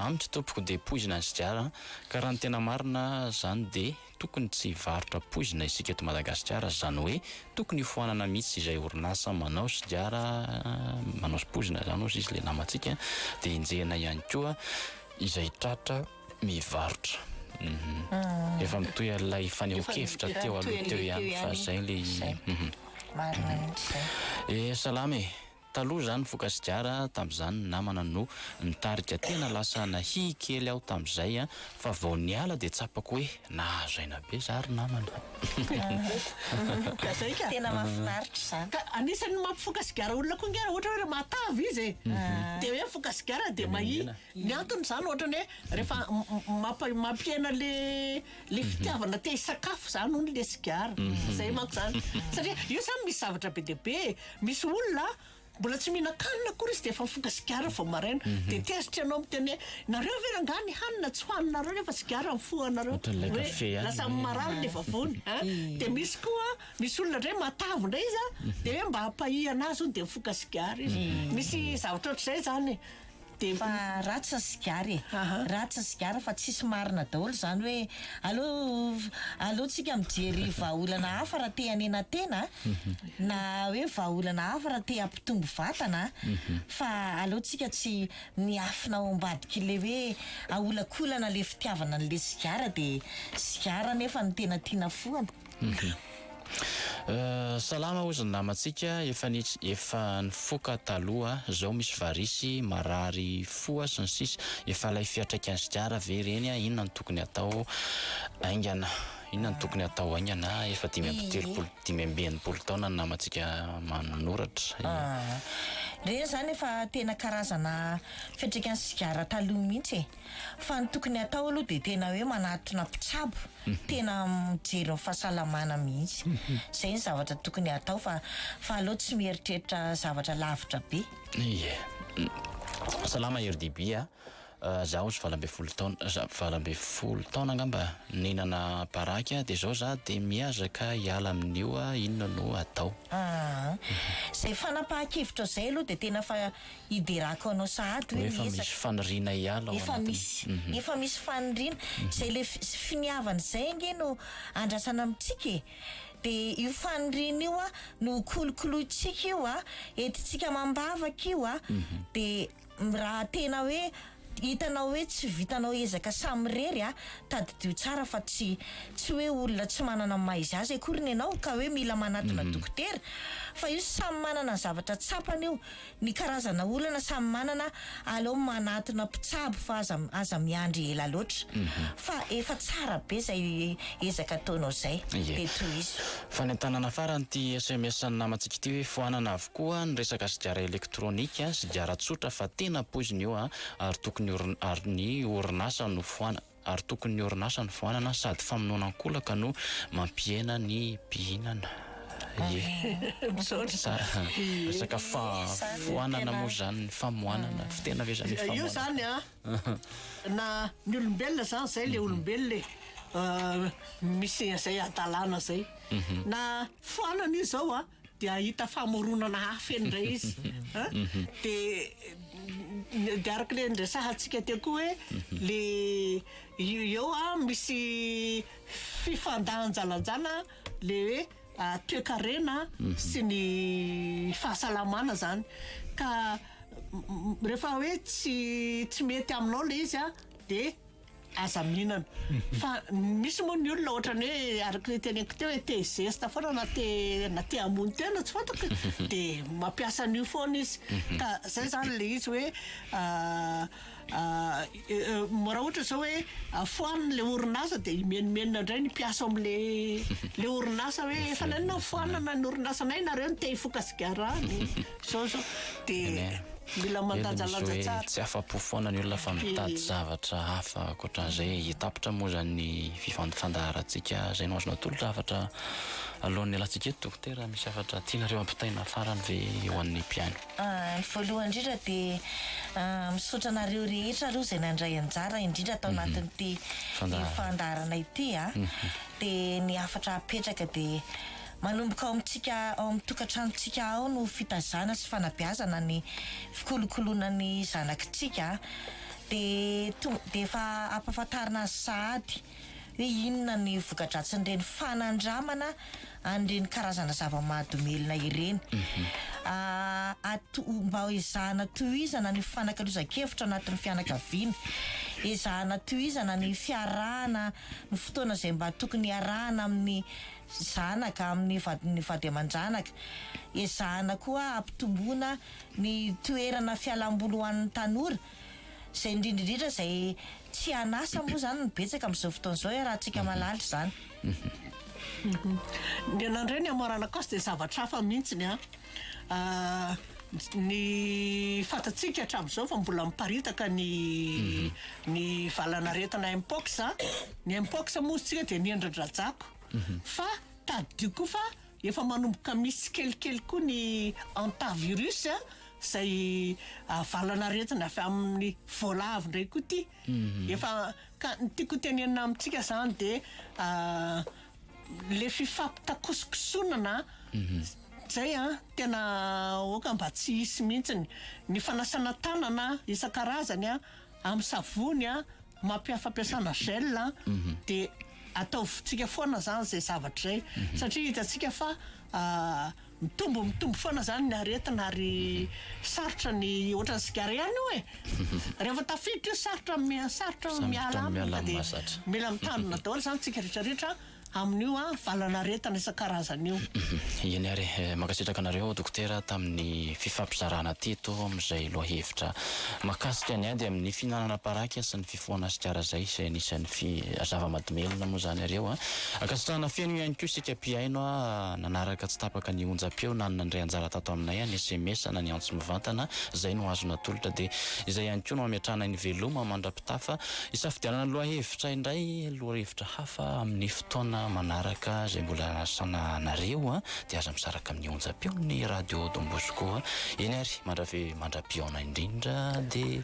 Amiko tompoko dia poizina ny sigara ka raha ny tena marina izany dia. Tokony tsy hivarotra poizina isika eto Madagasikara, zany hoe tokony hofoanana mihitsy izay orinasa manao sigara manao poizina zany ozy izy le namantsika de enjehina ihany koa izay tratra mivarotra efa mitohy an'ilay fanehoan-kevitra teo aloha teo ihany fa zay le izy. Marina mihitsy zay. Eh salama e. Taloha izany vokasigara tamin'izany ny namana no nitarika tena lasa nahiy kely aho tamin'izay an, fa vao niala dia tsapako hoe nahazo aina be za ry namana an. Tena mahafinaritra izany. Ka anisan'ny mampifoka sigara olona koa ngah raha ohatra hoe raha mahatava izy e. Dia hoe mifoka sigara dia mahiy. Ny antony zany ohatrany hoe rehefa mampa- mampihena le le fitiavana te hisakafo zany hono le sigara, zay manko zany. Satria io zany misy zavatra be dia be e, misy olona a mbola tsy mihinan-kanina akory izy de efa mifoka sigara vao maraina, de tezitra ianao miteny hoe nareo ve rangah ny hanina tsy hohaninareo nefa sigara ny fo anareo, Ohatran'ilay hoe kafe ihany lasa hoe. marary ny vavony a. De misy koa misy olona ndray matavy ndray izy a de hoe mba hampahiana azy hono de mifoka sigara izy. Misy zavatra ohatr'izay zany e. Dia mba ratsy ny sigara e! Ratsy ny sigara fa tsisy marina daholo izany hoe aleo aleontsika mijery vahaolana hafa raha te hanena tena na hoe vahaolana hafa raha te hampitombo vatana fa aleontsika tsy miafina ao ambadik'ilay hoe aholakolana ilay fitiavana an'ilay sigara dia sigara anefa no tena tiana foana. Salama ozy ny namantsika efa ny efa nifoka taloha zao misy varisy marary foa sy ny sisa efa ilay fiatraikan'ny sigara ve ireny a inona no tokony atao aingana inona no tokony atao haingana efa dimy amby telopolo dimy amby enimpolo taona ny namantsika manoratra ireny zany efa tena karazana fiatraikan'ny sigara taloha mihitsy e. Fa ny tokony atao aloha dia tena hoe manatona mpitsabo tena mijery ny fahasalamana mihitsy. Izay ny zavatra tokony atao fa fa aleo tsy mieritreritra zavatra lavitra be. Ie. Salama RDB a! Zaho ozy valo ambin'ny folo taona za- valo ambin'ny folo taona angamba nihinana baraky aho dia zao za dia miazaka hiala amin'io a! inona no atao? Aa. Izay fanapahan-kevitrao izay aloha dia tena fa. hiderako anao sahady hoe miezaka. Hoe efa misy faniriana hiala ao anatiny. Efa misy, efa misy faniriana. Izay ilay finiavana izay ange no andrasana amintsika e. Dia io faniriana io no kolokolointsika io, entintsika amam-bavaka io. Dia raha tena hoe hitanao hoe tsy vitanao ezaka samirery, tadidio tsara fa tsy tsy hoe olona tsy manana ny maha izy azy akoriny ianao ka hoe mila manatona dokotera. Fa io samy manana ny zavatra tsapany io. Ny karazana olana samy manana aleo manatona mpitsabo fa aza aza miandry ela loatra fa efa tsara be zay ezaka ataonao zay de tohizo. Fanentanana farany ity sms an'ny namantsika ity hoe foanana avokoa ny resaka sigara elektronika, sigara tsotra fa tena poizina io a, ary tokony ary ny orinasa no foanana. ary tokon'ny orinasa ny foanana sady famonoana ankolaka no mampihena ny mpihinana e! Misaotra. Resaka fa foanana moa izany ny famoanana fa tena ve izany hoe famoanana? Io izany an, na ny olombelona izany izay ilay olombelona e! Misy izay hadalana izay na foanana io izao an, dia hahita famoronana hafa eny indray izy a! dia dia araka ilay niresahantsika teo koa hoe ilay io eo a misy fifandanjalanjana ilay hoe toekarena sy ny fahasalamana zany ka rehefa hoe tsy tsy mety aminao ilay izy a dia Aza mihinana. Fa misy moa ny olona ohatran'ny hoe araka ny teneniko teo hoe te zesta foana na te na te hamono tena tsy fantako dia mampiasa an'io foana izy. Mhm. Ka zay zany ilay izy hoe ah, ah, raha ohatra izao hoe foanina ilay orinasa dia himenomenona indray ny mpiasa ao amin'ilay ilay orinasa hoe efa naninona ny foanana ny orinasanay nareo no te hifoka sigara any. Zao zao dia mila mandanjalanja tsara. Tsy afa-po foana ny olona fa mitady zavatra hafa ankoatran'izay hitapitra moa izany ny fandaharantsika. Izay no azonao atolotra hafatra alohan'ny hialantsika eto Dokotera? Misy hafatra tianareo hampitaina farany ve ho an'ny mpihaino? Ny voalohany indrindra dia misaotra anareo rehetra aloha izay nandray anjara indrindra tao anatin'ity fandaharana ity. Dia ny hafatra hapetraka dia. Manomboka ao amintsika ao amin'ny tokantranontsika ao no fitazana sy fanabeazana ny fikolokoloana ny zanakitsika dia tonga dia efa ampahafantarina azy sahady hoe inona ny voka-dratsin'ireny fanandramana an'ireny karazana zava-mahadomelina ireny. Ato mba ezahana tohizana ny fifanakalozan-kevitra ao anatin'ny fianakaviana, ezahana tohizana ny fiarahana, ny fotoana izay mba tokony hiarahana amin'ny zanaka amin'ny vadin'ny vady aman-janaka. Ezahana koa hampitomboana ny toerana fialam-boly ho an'ny tanora, izay indrindra indrindra izay tsy an'asa moa izany no betsaka amin'izao fotoana izao, iarahantsika mahalala izany. Ny anan'iray ny Amorana Coste dia zavatra hafa mihitsy ny an. Ny fantatsika hatramin'izao fa mbola miparitaka ny ny valan'aretina Mpox a. Ny Mpox moa izy tsika dia ny endri-drajako. Fa tadidio koa fa efa manomboka misy tsikelikely koa ny Hantavirus a, zay valan'aretina avy amin'ny voalavo ndray koa ity. Efa ka ny tiako hotenenina amintsika zany de le fifampitakosokosonana zay an tena aoka mba tsy hisy mihitsiny, ny fanasana tanana isan-karazany an amin'ny savony an, mampiha- fampiasana gel an, de ataovintsika foana zany zay zavatra zay satria hitantsika fa Mitombo mitombo foana zany ny aretina ary sarotra ny ohatran'ny sigara ihany io e! Rehefa tafiditra io sarotra sarotra ny miala aminy ka dia mila mitandrina daholo zany tsika rehetra rehetra amin'io valan'aretina isan-karazany io. Eny ary e! Mankasitraka anareo Dokotera tamin'ny fifampizarana teto amin'izay lohahevitra makasika ny ady amin'ny fihinanana paraky sy ny. foana sy tsara zay izay anisan'ny fi zava-madomelona moa zany ireo a. Ankasitrahana feno ihany koa isika mpihaino a nanaraka tsy tapaka ny onjam-peo na ny nandray anjara tato aminay ny sms na ny antso mivantana zay no azo natolotra dia izay ihany koa no ametrahanay ny veloma mandra-pitafa hisafidianana ny lohahevitra indray lohahevitra hafa amin'ny fotoana manaraka izay mbola anasana anareo a dia aza misaraka amin'ny onjam-peon'ny radio Don Bosco a eny ary mandrave mandra-pihaona indrindra dia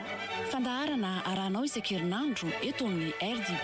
Fandaharana arahanao isan-kerinandro eto amin'ny RDB.